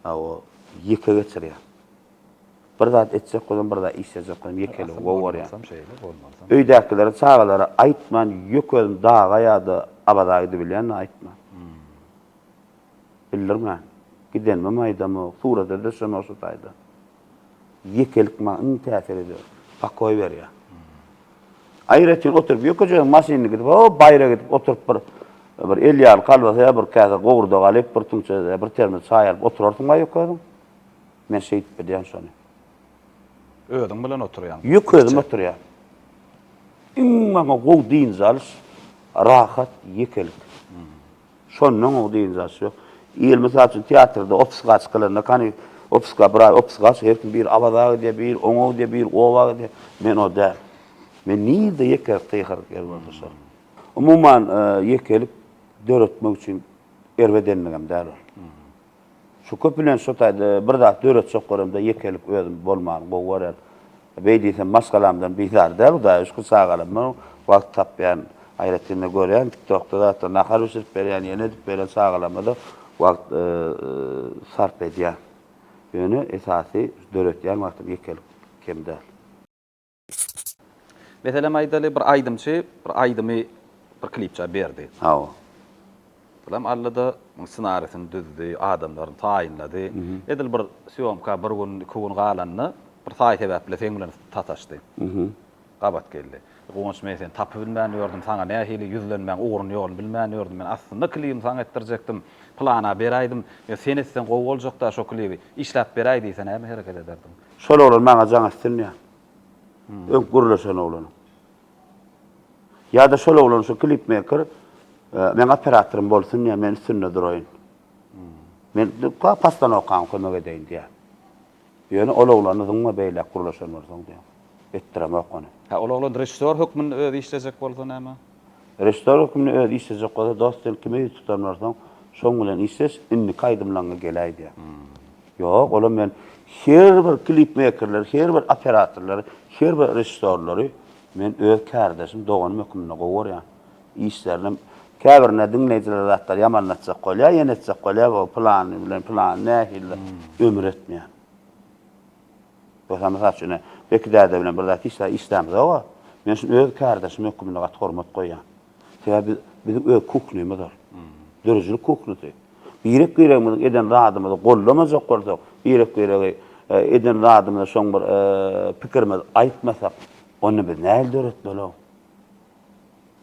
a o ýeke geçirýän. Bir zat etjek bolsam, bir zat işlejek bolsam ýekeligim gowy görýän. Öýdäkilere, çagalara aýtman, ýöke özüm daga ýa-da Abaza gidibilýän-de aýtman. Bildirmän. Gidenimem aýdamok, surata düşemok şu taýdan. Ýekelik maňa iň täsir edýär, pokoý berýär. Aýratyn oturyp, ýökejesiň maşynyny gidip, ho, baýra gidip oturyp bir bir elýagly kolbasa ýa bir käse gowurdak alyp, bir tüňçe, bir termos çaý alyp oturarsyň-a ýöke özüň. Men şeýdip bilýän şony. Özüň bilen oturýaň. Ýük özüm oturýan. Iň maňa gowy dynç alyş, rahat, ýekelik. Şondan gowy dynç alyş ýok. Il mysal üçin teatrda obsgaç kylanda, kani obska bir aý obsgaç, her kim bir Awaza gidýär, bir oňa gidýär, bir oba gidýär. Men o däl. Men nirde ýekelik gygyryk ýer bolsa şol. Umuman, ýekelik döretmek üçin erbedenligem däl ol. Şu köplenç şu taýda bir zat döretjek göremde ýekelik özüm bolmany gowy gören. Beý diýsem maşgalamdan bizar däl hudaýa şükür çagalar bilen wagt tapýan. Aýratyn-da görýän TikTokda zatlar nahar bişirip berýän ýene edip berýän çagalarymyza wagt sarp edýän. Ýöne esasy döretýän wagtym ýekelik kem däl. Meselem aýdaly bir aýdymçy bir aýdymy bir klipçä berdi. Hawa. Salam Allada ssenarisini düzdi, adamlaryny taýynlady. Edil bir sýomka bir gün, iki gün galanda bir taý sebäp bilen seň bilen sataşdy. Gabat geldi. Guwanç men seni tapybilmän ýördüm, saňa nähili ýüzlenmäň ugruny ýoluny bilmän ýördüm. Men aslynda klibimi saňa etdirjekdim. Plana beräýdim. Ýa sen etseň gowy boljakda şo klibi. Işläp beräý diýse näme hereket ederdiň? Şol oglan maňa jaň etsin ýa. Öň gürleşen oglanyň. Ýa-da şol oglan şu klipmeýker meň operatorym bolsun ýa, men üstünde duraýyn. Men pastanokam kömek edeýin diýýär. Ýöne ol oglany zyňma beýläk gürleşen bolsaň diýýär. Etdiremok ony. Hä, ol oglan režissýor hökmünde özi işlejek bolsa näme? Režissor hökmünde özi işlejek bolsa, Dost, sen kime ýüz tutan bolsaň, şoň bilen işleş, indiki aýdymlaňňa geläý diýýär. Ýok, olam men her bir klipmeýkerleri, her bir operatorlary, her bir režissorlary men öz kärdeşim, doganym hökmünde gowy görýän. Işlerinem, käbirine diňleýjilere zatlar ýamanlatjak bolýar, ýene etjek bolýar, bu pylany bilen pylany nähilidir, ömür etmeýän. Rosa mysal üçin, ine, Beki däde bilen bir zat hiç zat işlämzog-a. Men şuny öz kärdeşim hökmünde gaty hormat goýýan. Sebäbi biz, biziň öz kuhnymyz ol. Döredijilik kuhnysy. Birek-biregimiziň eden zadymyzy gollamajak bolsak, birek-biregi eden zadymyza şoň bir pikirimizi aýtmasak, onda biz nähili döretmeli-ow?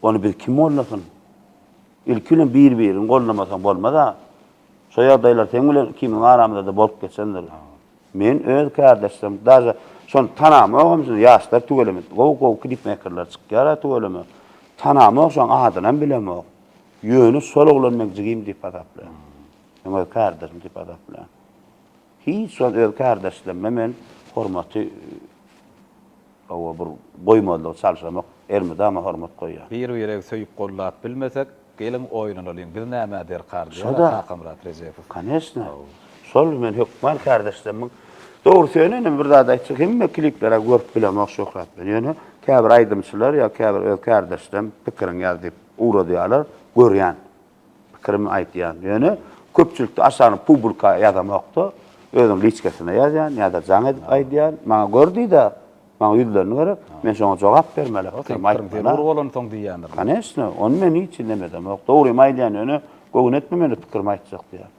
Ony bizi kim gollasyn? Ilki bilen bir-biriňi gollamasaň bolmaz-a. Şo ýagdaýlar seň bilen ikimiziň aramyzda-da bolup geçendir. Men öz kärdeşlerim daže şony tanamogam şuny ýaşlar tüweleme gowy gowy klipmekerler çykýara tüweleme tanamok şoň adynam bilemok ýöne şol oglan meň jigim diýip hasaplaýan meň öz kärdeşim diýip hasaplaýan hiç wagt öz kärdeşlerime men hormaty Hawa bir goýmazlygy çalşamak ermidama hormat goýýan. Bir biregi söýüp gollap bilmesek geliň oýnanalyň biz nämä derkar diýär Kakamyrat Rejepow. Konesna şol men hökman kärdeşlemiň dogrusy ýöne ine bir zat aýtjak hemme klipleri görüp bilemok şöhrat bilen ýöne käbir aýdymçylar ýa käbir öz kärdeşlem pikiriň ýaz diýip ugradýarlar görýän Pikirimi aýtýan. Ýöne köpçülikde aşagyny publika ýazamokda, özüň liçkasynda ýazýan ýa-da jaň edip aýdýan. Maňa gör diýdä, maňa ýüzlenme gerek, men şoňa jogap bermeli, pikirimi aýtmaly. Seň pikirin zerur bolansoň diýýändir. Koneçno, ony men hiç hili nemedemok. Dogrymy aýdýan, ýöne göwün etme meni pikirimi aýtjak diýýän.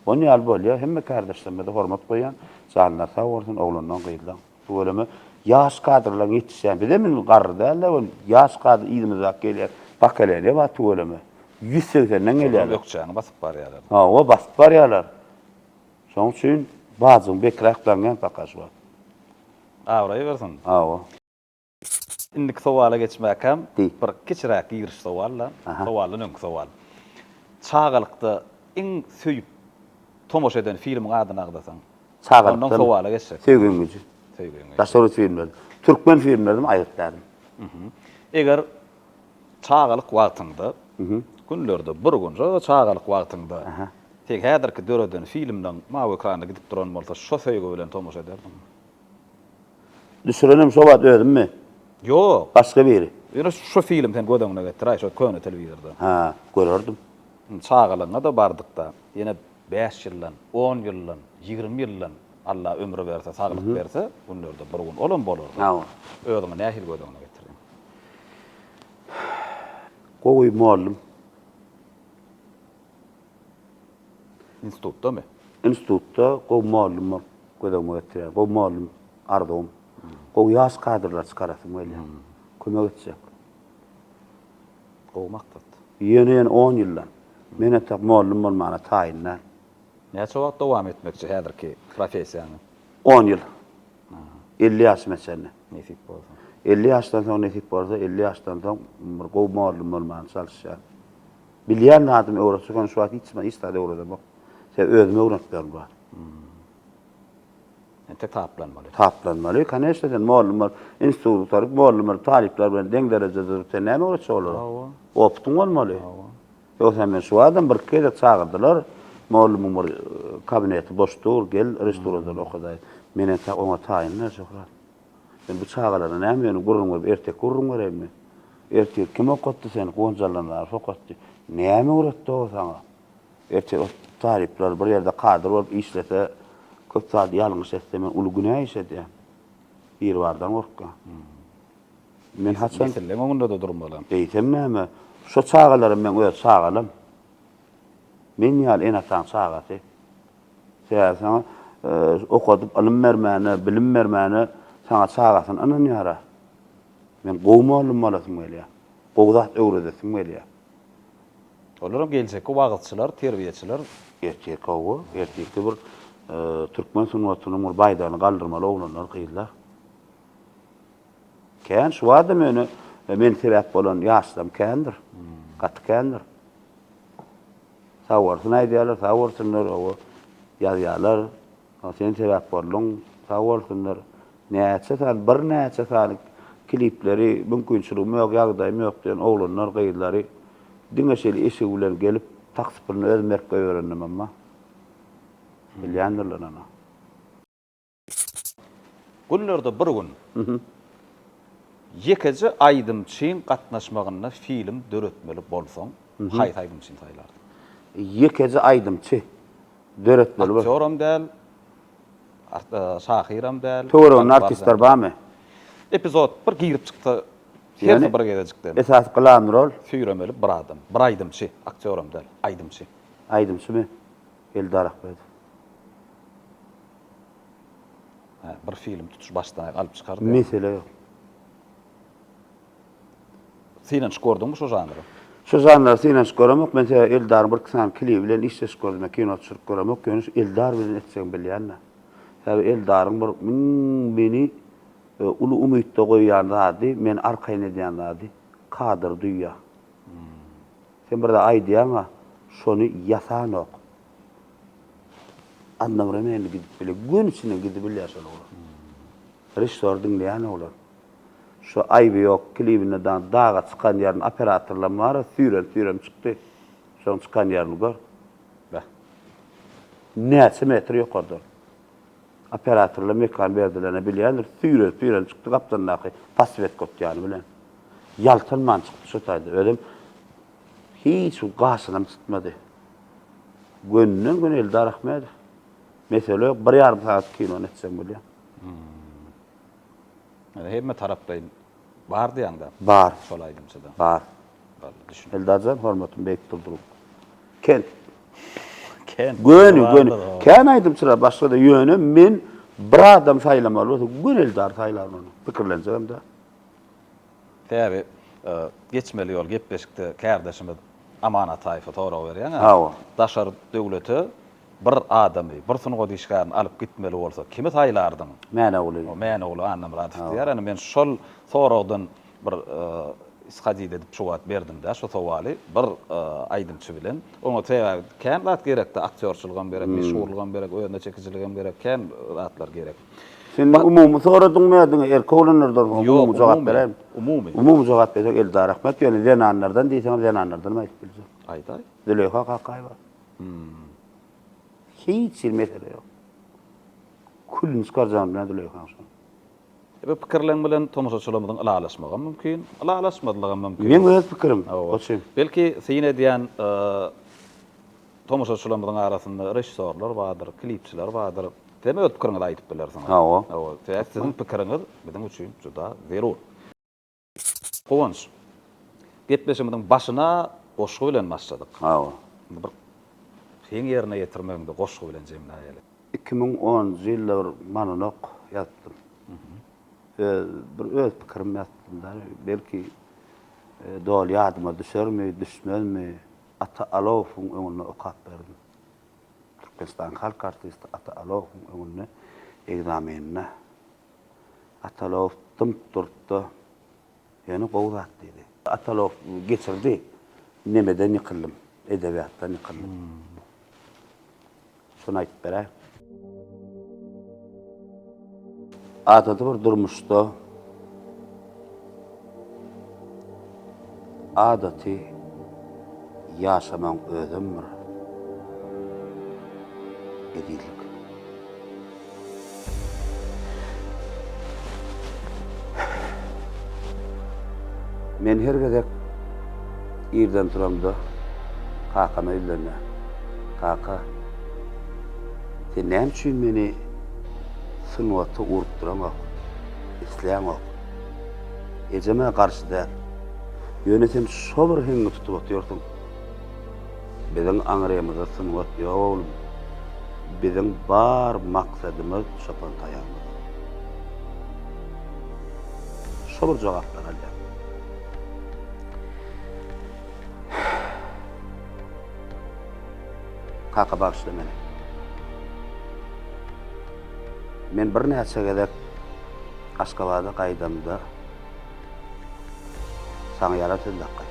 Ony ýaly bolýa, hemme kärdeşlerime-de hormat goýýan, janlary sag bolsun, oglandan, gyzdan. Tüweleme, ýaş kadrlaň ýetişýän, bizem indi garry däl-de, ol ýaş kadr yzymyzdaky gelýär. Pokoleniýe bar, tüweleme. Ýüz segsenden gelýärler. Şolar ökjäni basyp barýarlar. Hawa, basyp barýarlar. Şonuň üçin bajyň bekräk daňýan pakaş wagt. Abraýy bersin. Hawa. Indiki sowala geçmäkäm, bir kiçiräk giriş sowal-da, sowaldan öňki sowal. Çagalykda iň söýüp tomaşa eden filmiň adyny agzasaň? Ondan sowala geçsek. Söýgüň güji. Söýgüň güji. Daşary ýurt filmleri. Türkmen filmlerim aýgyt däl. Eger çagalyk wagtyňda, günlerde bir gün şo çagalyk wagtyňda seň häzirki döreden filmleň mawy ekranda gidip duran bolsa, şo söýgi bilen tomaşa ederdiňmi? Düşürenem şo wagt özümmi? Ýok. Başga biri. Ýöne şo film sen göz öňüne getir-aý, şo köne telewizorda. Hä, görerdim. Çagalygyňa-da bardyk-da. Ýene bäş ýyldan, on ýyldan, ýigrimi ýyldan Alla ömür berse, saglyk berse, günlerde bir gün olam bolar-da. Hawa. Özüňi nähili göz öňüne getirdiň? Gowy mugallym. Institutdamy? Institutda gowy mugallymlar gözegime getirýär. Gowy mugallym arzuwym. Gowy ýaş kadrlar çykarasym gelýär. Kömek etjek. Gowy maksat. Ýöne-ýöne on ýyldan. Men entek mugallym bolmana taýyn däl. Näçe wagt dowam etmekçi häzirki professiýaňy? On ýyl. Elli ýaşyma çenli. Nesip bolsa. Elli ýaşdan soň nesip bolsa, elli ýaşdan soň bir gowy mugallym bolmana çalyşýaryn. Bilýän zadym öwretsek ony şu wagt hiç hiç zat öwredemok. Sebäbi özüme öwrenplerim bar. Entek taplanmaly. Taplanmaly. Koneşne sen mugallym bol, institut gutaryp, mugallym bolup, talyplar bilen deň derejede durup, sen näme öwretjek olara? Hawa. Opytyň bolmaly. Hawa. Ýogsa men şu wagtam bir-iki gezek çagyrdylar. Mugallymyň bir kabineti boş dur, gel, režissuradan okadaý. Men entek oňa taýyn-da, Şöhrat. Sen bu çagalara näme ýöne gürrüň berip erteki gürrüň berenmi? Ertir kim okatdy seni? Guwanç Allanzarow okatdy. Näme öwretdi o saňa? Ertir o talyplar bir ýerde kadr bolup işlese köp zady ýalňyş etse men uly günä iş edýän. Biribardan gorkýan. Men haçan Nesilliň öňünde-de durmalam. Eýsem näme? Şo çagalaram meň öz çagalam. Men ýaly ene-ataň çagasy. Sebäbi saňa okadyp ylym bermäne, bilim bermäne saňa çagasyny ynanýar-a. Men gowy mugallym bolasym gelýär. Gowy zat öwredesim gelýär. Olaram geljekki wagyzçylar, terbiýeçiler. Ertir gowy, ertirki bir türkmen sungatynyň bir baýdagyny galdyrmaly oglanlar, gyzlar. Kän, şu wagtam ýöne men sebäp bolan ýaşlaryň kändir. Gaty kändir. Sag bolsun aýdýarlar, sag bolsunlar, owo, ýazýarlar. Owo, sen sebäp bolduň, sag bolsunlar. Näçe sany, birnäçe sany klipleri, mümkinçiligim ýok, ýagdaýym ýok diýen oglanlar, gyzlary diňe şeýle eşigi bilen gelip, taksiprini özüm berip goýberendim, emma bilýändirler ony. Günlerde bir gün ýekeje aýdymçyň gatnaşmagynda film döretmeli bolsaň, haýsy aýdymçyny saýlardyň? Ýekeje aýdymçy döretmeli bolsaň. Aktýoram däl, şahyram däl. Töwereginde artistler barmy? Epizod bir girip çyksa, her bir gezejikden. Esasy glan rol? Süýremeli bir adam, bir aýdymçy, aktýoram däl, aýdymçy. Aýdymçymy? Eldar Ahmedow. Hä, bir film tutuş başdan-aýak alyp çykardy. Mesele ýok. Synanyşyp gördüňmi şu žanra? Şu žanra synanyşyp göremok. Men sebäbi Eldaryň birki sany klibi bilen işleşip gördüm. Men kino düşürip göremok. Ýöne şu Eldar bilen etjegimi bilýän-de. Sebäbi Eldaryň bir müň meni uly umytda goýýan zady, meni arkaýyn edýän zady, kadr, düýe. Sen bir zat aýdýaň-a, şony ýasanok. Annagyra näme gidip biler? Gün içinde gidibilýär şol oglan. Režissor diňleýän oglan. Şu Aýby ýok klibinde daň daga çykan ýerini operatorlam bar, süýrem-süýrem çykdy. Şoň çykan ýerini gör. Beh. Näçe metr ýokardan. Operatorlar mekan berdilerine bilýändir, süýren-süýren çykdy gapdandaky poswetka otýany bilen. Ýaltanman çykdy şu taýda. Özem hiç bir gaşynam çytmady. Gönden göni Eldar Ahmedow. Mesele yok. Bir yarım saat kinony etsem bolýar. Yani hemme taraflaýyn bar diýäňde. Bar. Şol aýdymçyda. Bar. Bar. Düşün. Eldarjan hormatym beýik durduryp. Ken. Ken. Göni göni. Ken aýdymçylar başga da ýöne men bir adam saýlamaly bolsa göni Eldar saýlaryn ony. Pikirlenjegim de. Sebäbi geçmeli ýol gepleşikde kärdeşimiz Aman Ataýewe sorag berýän. Hawa. Daşary döwlete bir adamy, bir sungat işgärini alyp gitmeli bolsa kimi saýlardyň? Mäneogly. Mäneogly Annamyradow diýýär. Ine men şol soragdan bir ishodida edip jogat berdim-de şu sowaly bir aýdymçy bilen. Oňa sebäbi kän zat gerekde aktýorçylygam gerek, meşhurlygam gerek, özüne çekijiligem gerek, kän zatlar gerek. Sen Ba- umumy soradyň mı diňe erkek oglanlardan soň Ýok, umumy jogap umumy, beräýim. umumy. Umumy jogap berseň Eldar Ahmet ýöne zenanlardan diýseň zenanlardan hem aýdyp biljek. Aýdaý. Züleýha Kakaýewa. Hmm. Hiç hil mesele ýok. Külüni çykarjagym bilen Züleýhaň şony. E, Bu pikirleň bilen tomaşaçylarymyzyň ylalaşmagam mümkin, ylalaşmazlygam mümkin. Meň öz pikirim. Hawa. Goçum. Belki syn edýän e, Tomaşaçylarymyzyň arasynda režissýorlar bardyr, klipçiler bardyr. Sizem öz pikiriňizi aýdyp bilersiňiz. Hawa. Hawa, sebäp siziň pikiriňiz biziň üçin juda zerur. Guwanç, gepleşigimiziň başyna goşgy bilen başladyk. Hawa. Indi bir seň ýerine ýetirmegiňde goşgy bilen jemläýeli. Iki müň onunjy ýylda bir monolog ýazdym. Öz, bir öz pikirimi ýazdym-da. Belki, doly ýadyma düşermi, düşmezmi, Ata Alowowyň öňünde okap berdim. Türkmenistanyň halk artisti Ata Alowowyň öňünde ekzameninde. Ata Alowow dymyp durup-da, Ýöne gowy zat diýdi. Ata Alowow geçirdi. Nemeden ýykyldym? Edebiýatdan ýykyldym. Şuny aýdyp beräý. Adaty bir durmuşda adaty ýaşamagyň özem bir ezizlik. Men her gezek irden turamda kakama ýüzlenýän. Kaka, sen näme üçin meni sungata urup duraňok, isleýäňok? Ejem-ä garşy däl. Ýöne sen şo bir heňňi tutup otyrsyň. Biziň aňrymyzda sungat ýok oglum. Biziň bar maksadymyz çopan taýagymyz. Şo bir jogaplary alýan. Kaka bagyşla meni. Men birnäçe gezek Aşgabada gaýdamda Saňa ýarar söz dakga.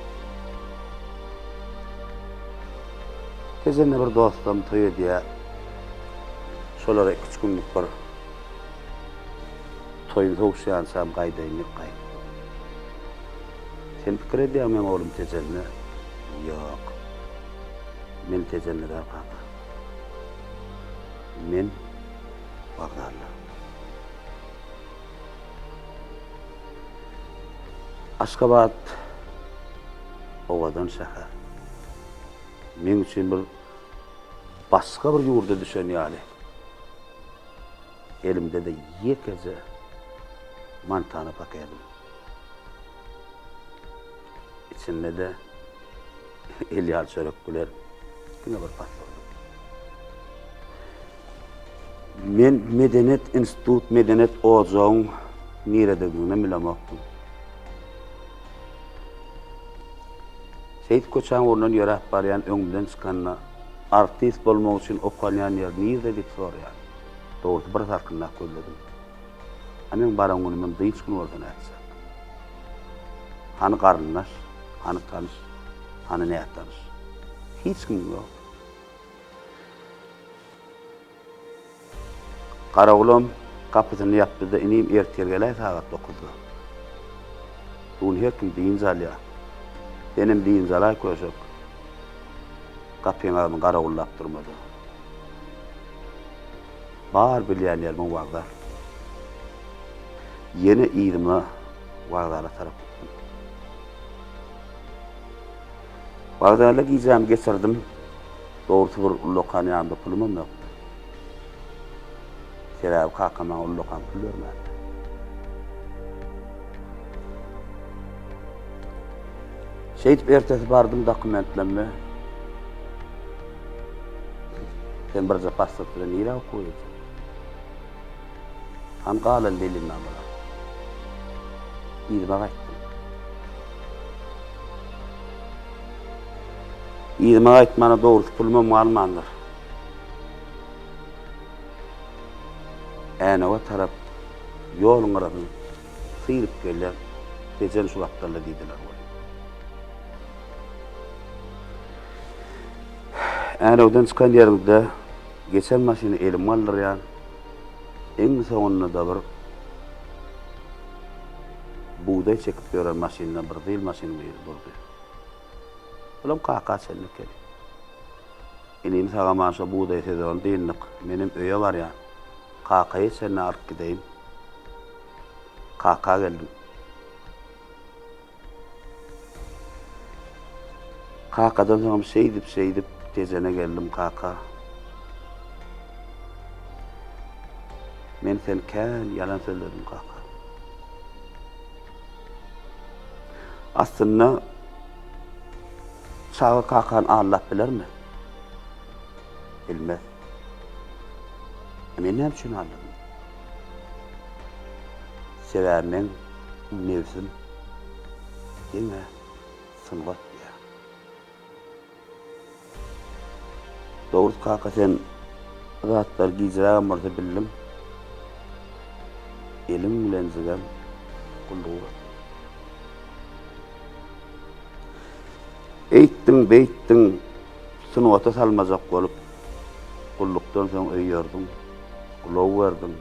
Tejenä bir dostum toý edýär. Şolara iki-üç günlük bir toýun sowuşýançam gaýdaýyn diýip gaýt. Sen pikir edýäňmi meň oglum Tejenli? Ýok. Men Tejenli däl kaka. Men Bagdadly. Aşgabat owadan şäher. Meň üçin bir başga bir ýurda düşen ýaly. Elimde-de ýekeje mantana pakedim. Içinde-de Elýar çörek güler. Diňe bir pat boldy. Men medeniýet institut, medeniýet ojagyň nirededigini bilemokdym. Seýit köçäň ornundan ýöräp barýan öňümden çykanda, artist bolmak üçin okanýan ýer nirde diýip soraýar. Dogrusy bir salkynlap gözledim. A meň baran günümem dynç gün bolsa nätjek? Hany garyndaş, hany tanyş, hany nätanyş? Hiç kim ýok. Garawulam gapysyny ýapdy-da, Inim, ertir geläý sagat dokuzda. Bu gün her kim dynç alýar. Senem dynç alaý köşek. Gapyň agzyny garawullap durma-da. Bar bilýänlerimiň wokzal. Ýene yzyma wokzala tarap gitdim. Wokzalda gijämi geçirdim. Dogrusy bir ullakan ýanymda pulumam ýokdy. Sebäbi kakam maňa ullakan pul bermändi. Şeýdip ertesi bardym dokumentlerimi Sen birje pasport bilen nirä okuwa gidjek? Hany galan belima bolar. Yzyma gaýtdym. Yzyma gaýtmana dogrusy pulumam galmandyr. Änewe tarap ýoluň gyrasyn. Syryp gelýär, Tejen şu gapdalda diýdiler welin. Ärewden çykan ýerimde geçen maşyny elime aldyrýan. Iň soňunda-da bir bugdaý çekip ýören maşyndan bir zyl maşynyň biri durdy. Bulam kaka çenli ekeni. Inini sagaman şo bugdaý sezony dyndyk. Menem öýe barýan. Kakaýy çenli alyp gideýin. Kaka geldim. Kakadan soňam şeýdip şeýdip Tejene geldim kaka. Men sen kän ýalan sözledim kaka. Aslynda Çaga kakany aldap bilermi? Bilmez. Men näme üçin aldadym? Sebäbi meň nebsim diňe sungat diýýär. Dogrydy kaka sen bu zatlary gijrägem bolsa bildiň. Eliň bilen jigem gulluk et. Eýtdiň beýtdiň Sungata salmajak bolup, gullukdan soň öý ýorduň, ulag berdiň.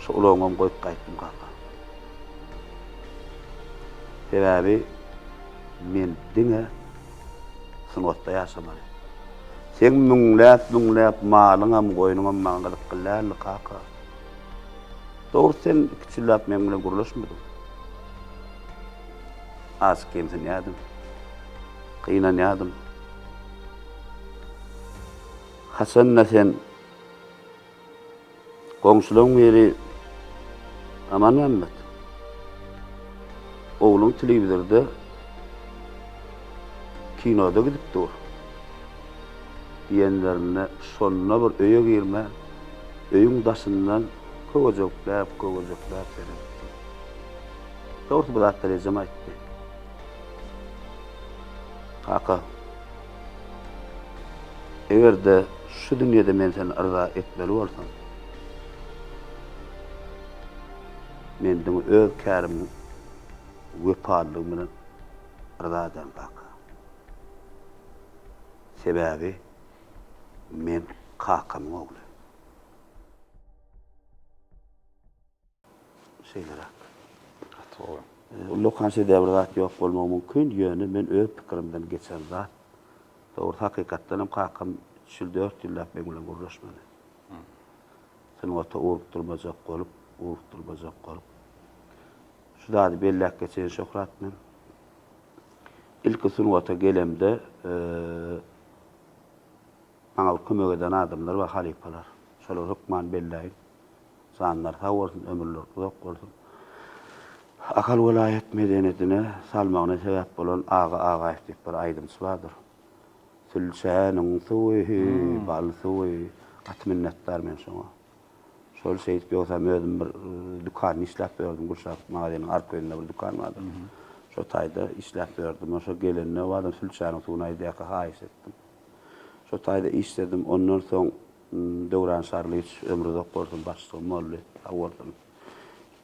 Şu ulagyňam goýup gaýtdym kaka. Sebäbi men diňe sungatda ýaşamaly. Seň müňläp-müňläp malyňam, goýnuňam maňa gyzykly däldi kaka. Dogry sen iki çillap meň bilen gürleşmediň. Az kemsinýädim. Gynanýadym. Haçanda sen goňşulaň biri Aman Mämmet. Ogluň telewizorda kinoda gidip dur. diýenlerinde şonda bir öýe girme, öýüň daşyndan köwejekläp-köwejekläp seredipdim. Dogrusy bu zatlar ejem aýtdy. Kaka, eger-de şu dünýede men seni yza etmeli bolsam, men diňe öz kärimiň wepalylygym bilen yza ederin, kaka. Sebäbi men kakamyň ogly. Şeýleräk. Gaty gowy. Ullakan şeýdä bir zat ýok bolmagy mümkin, ýöne men öz pikirimden geçen zat. Dogrusy hakykatdan hem kakam üç ýyl dört ýyllap meň bilen gürleşmedi. Sungata ugrukdyrmajak bolup, ugrukdyrmajak bolup. Şu zady belläp geçeýin Şöhrat, men ilki sungata gelemde maňa bir kömek eden adamlar bar, halypalar. Şolary hökman belläýin. Janlary sag bolsun, ömürleri uzak bolsun. Ahal welaýat medeniýetine salmagyna sebäp bolan Aga Agaýew diýip bir aýdymçy bardyr. Sülçäniň suwy, bal suwy. Gaty minnetdar men şoňa. Şol şeýdip ýogsam özüm bir dükanda işläp ýördüm, Gülşat magaziniň arkaýynda bir dükan bardy. Şo taýda işläp ýördüm. Şo gelende badam sülçäniň suwuny aýdaýaka haýyş etdim. Şo taýda işledim. Ondan soň Döwran Şarlyýewiç ömri uzak bolsun başlygym boldy. Sag bolsun.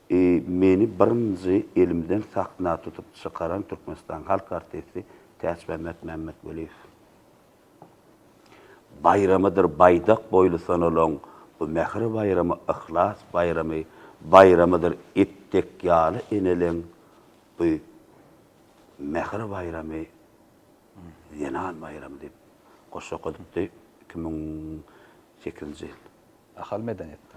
I meni birinji elimden sahna tutup çykaran Türkmenistanyň halk artisti Täçmämmet Mämmetweliýew. baýramydyr Baýdak boýly sanalan bu mähir baýramy Yhlas baýramy baýramydyr It dek ýaly eneleň bu mähir baýramy Zenan baýramy diýip goşgy okadypdy iki müň sekizinji ýyl. Ahal medeniýetde.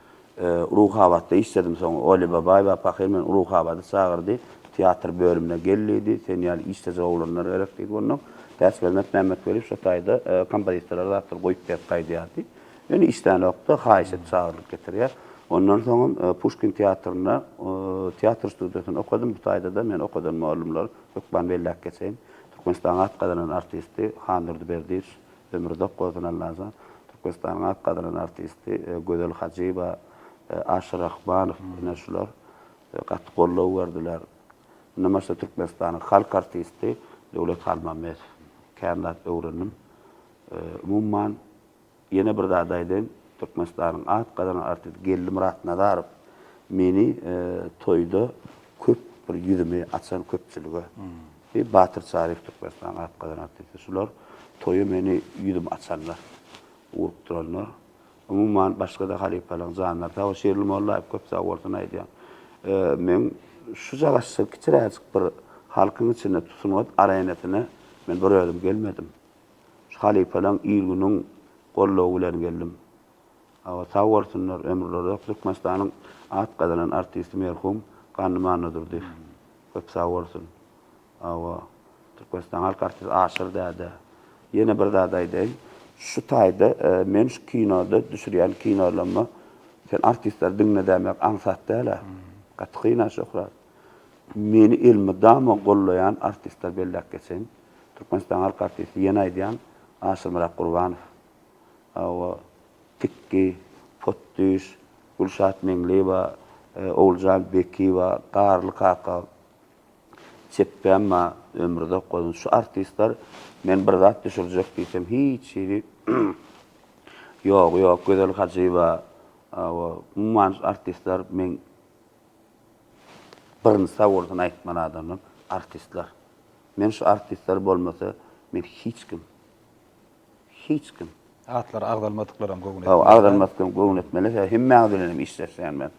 Ruhabatda işledim soň Oly Babaýewa pahyr meni Ruhabada çagyrdy. Teatr bölümine gel diýdi. Sen ýaly işlejek oglanlar gerek diýdi. Onnoň Täçgöwnet Mämmetweliýew şo taýda kompozitorlara zatlar goýup berip gaýdýardy. Ýöne işlänokdy. Haýyş et çagyrylyp getirýär. Ondan soňam Puşkin teatrynda teatr studiýasynda okadym. Bu taýda-da meni okadan mugallymlar hökman belläp geçeýin. Türkmenistanyň at gazanan artisti Handurdy Berdiýew Ömürzak bolsun Allajan. Türkmenistanyň at gazanan artisti Gözel Hajyýewa, Aşyr Rahmanow ine şular gaty goldaw berdiler. Mundan başga Türkmenistanyň halk artisti Döwlet Halmämmedow. Kän zat öwrendim. Umuman ýene bir zat aýdaýyn, Türkmenistanyň at gazanan artisti Geldi Myratnazarow meni toýda köp bir ýüzümi açan köpçülige. Diýip, Batyr Çaryýew Türkmenistanyň at gazan artisti. Şular toýa meni ýüzüm açanlar, urup duranlar. Umuman, başga-da halypalaryň janlary sag bol. Şirli Mollaýew köp sag bolsun aýdýan. Men şu jagaşjyk kiçiräjik bir halkyň içinde sungat arenasyna men bir özüm gelmedim. Şu halypalaryň il-günüň goldawy bilen geldim. Awa sag bolsunlar ömürleri uzak Türkmenistanyň at gazanan artisti merhum Gannym Annadurdyýew köp sag bolsun Awa Türkmenistanyň halk artisti Aşyr däde ýene bir zat aýdaýyn şu taýda men şu kinoda düşürýän kinolarymda sen artistleri diňledämek aňsat dälä gaty kynä Şöhrat meni elmydama gollaýan artistleri belläp geçeýin Türkmenistanyň halk artisti ýene aýdýan Aşyrmyrat Gurbanow. Hawa, Tikki, Potdüş, Gülşat Meňliýewa, Oguljan Bekiýewa, Garly kaka, Çepbemma, Ömruzak Gozan, şu artistler men bir zat düşürjek diýsem, hiç hili ýogy ýok. Gözel Hajyýewa, hawa, umuman şu artistler meň birinji sag bolsun aýtman adamym, artistler. Men şu artistler bolmasa, men hiç kim. Hiç kim. Atlary agzalmadyklaram göwün etmeli. Hawa, agzalmadyklaram göwün etmeli. Hemmäňiz bilenem işleşýän men.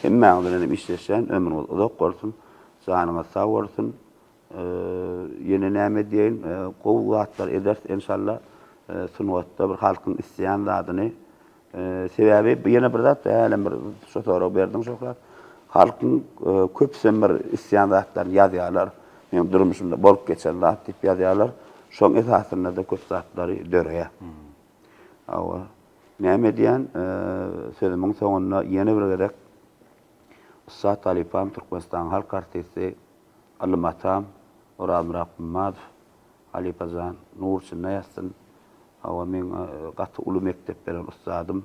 Hemmäňiz bilenem işleşýän. Ömrüňiz uzak bolsun. Janyňyz sag bolsun. Ýene näme diýeýin? Gowy zatlar ederis enşalla. Sungatda bir halkyň isleýän zadyny Sebäbi ýene bir zat, hälem bir şu soragy berdiň şöhrat. Halkyň e, köpüsem bir isleýän zatlaryny ýazýarlar. Meň durmuşymda bolup geçen zat diýip ýazýarlar. Şoň esasynda-da köp zatlary döreýär. Hawa. Näme edýän? E, sözümiň soňunda ýene bir gezek ussat halypam, Türkmenistanyň halk artisti, ylym atam Orazmyrat Gummadow, halypajan, nur içinde ýatsyn. Hawa meň gaty uly mekdep beren ussadym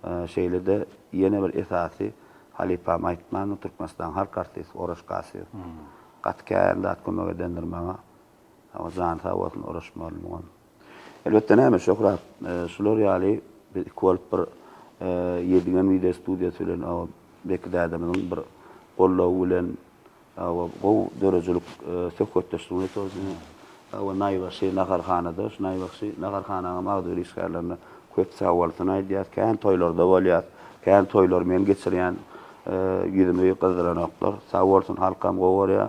şeýlede ýene bir esasy halypam aýtmanmy Türkmenistanyň halk artisti Oraş Kasyýew gaty kän zat kömek edendir maňa hawa jany sag bolsun Oraş mugallymyňam elbetde näme Şöhrat şular ýaly biz iki bolup bir Ýedigen wideo studiýasy bilen Beki dädemiziň bir goldawy bilen Hawa, gowy döredijilik söhbetdeşligimiz etozdi. Hawa, naýbaşy naharhanada, şu naýbaşy naharhanaňam agzybir işgärlerine köp sagbolsun aýdýas. Kän toýlarda bolýas. Kän toýlary men geçirýän. Ýüzümi gyzdyranoklar. Sag bolsun, halkam gowy görýär.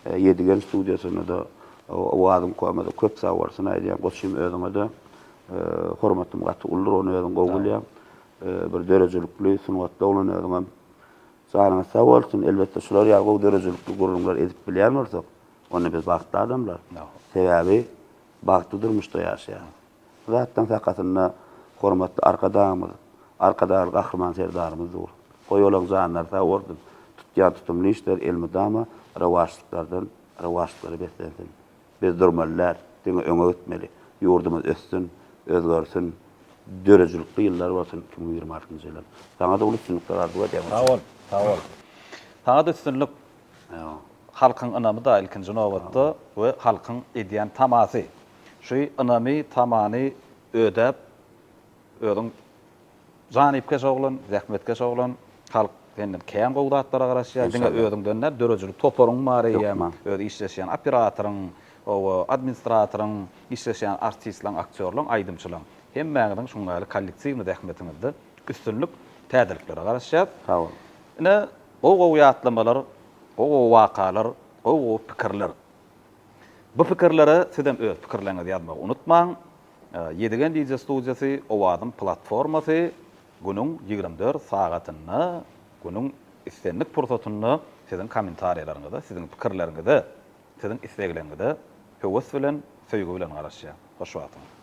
Ýedigen studiýasyna-da, Owazyň koma-da köp sag bolsun aýdýan. Goçym, özüňe-de hormatym gaty uludyr, ony özüm gowy bilýän. Bir döredijilikli, sungatly oglan özüňem. Janyňyz sag bolsun, elbetde şular ýaly gowy döredijilikli gürrüňler edip bilýän bolsak, onda biz bagtly adamlar. Sebäbi bagtly durmuşda ýaşaýarys. Bu zatdan sakasynda hormatly Arkadagymyz, Arkadagly Gahryman Serdarymyz dur. Goý olaň janlary sag bolsun, tutýan tutumly işleri elmydama rowaçlyklardan rowaçlyklara beslensin. Biz durmaly däl, diňe öňe gitmeli. Ýurdumyz össün, özgersin, döredijilikli ýyllar bolsun iki müň ýigrimi altynjy ýylyň. Saňa-da uly üstünlikler arzuw edýän. Sag bol, sag bol. Saňa-da üstünlik. Halkyň ynamy-da ilkinji nobatda we halkyň edýän tamasy. Şu ynamy, tamany ödäp, özüň Janypkeş oglan, zähmetkeş oglan. Halk senden kän gowy zatlara garaşýar. Diňe özüňden däl, döredijilik toparyň bar eýýäm. Öz işleşýän operatoryň, hawa, administratoryň, işleşýän artistlaň, aktýorlaň, aýdymçylaň. Hemmäňiziň şuň ýaly kollektiwnyý zähmetiňizde üstünlik, täzeliklere garaşýas. Sag boluň. Ine, gowy-gowy ýatlamalar, gowy-gowy wakalar, gowy-gowy pikirler. Bu pikirlere sizem öz pikirleriňizi ýazmagy unutmaň. Ýedigen DJ studiýasy Owazyň platformasy günüň ýigrimi dört sagatynda, günüň islendik pursatynda siziň kommentariýalaryňyza, siziň pikirleriňize, siziň islegleriňize höwes bilen, söýgi bilen garaşýar. Hoş wagtyňyz.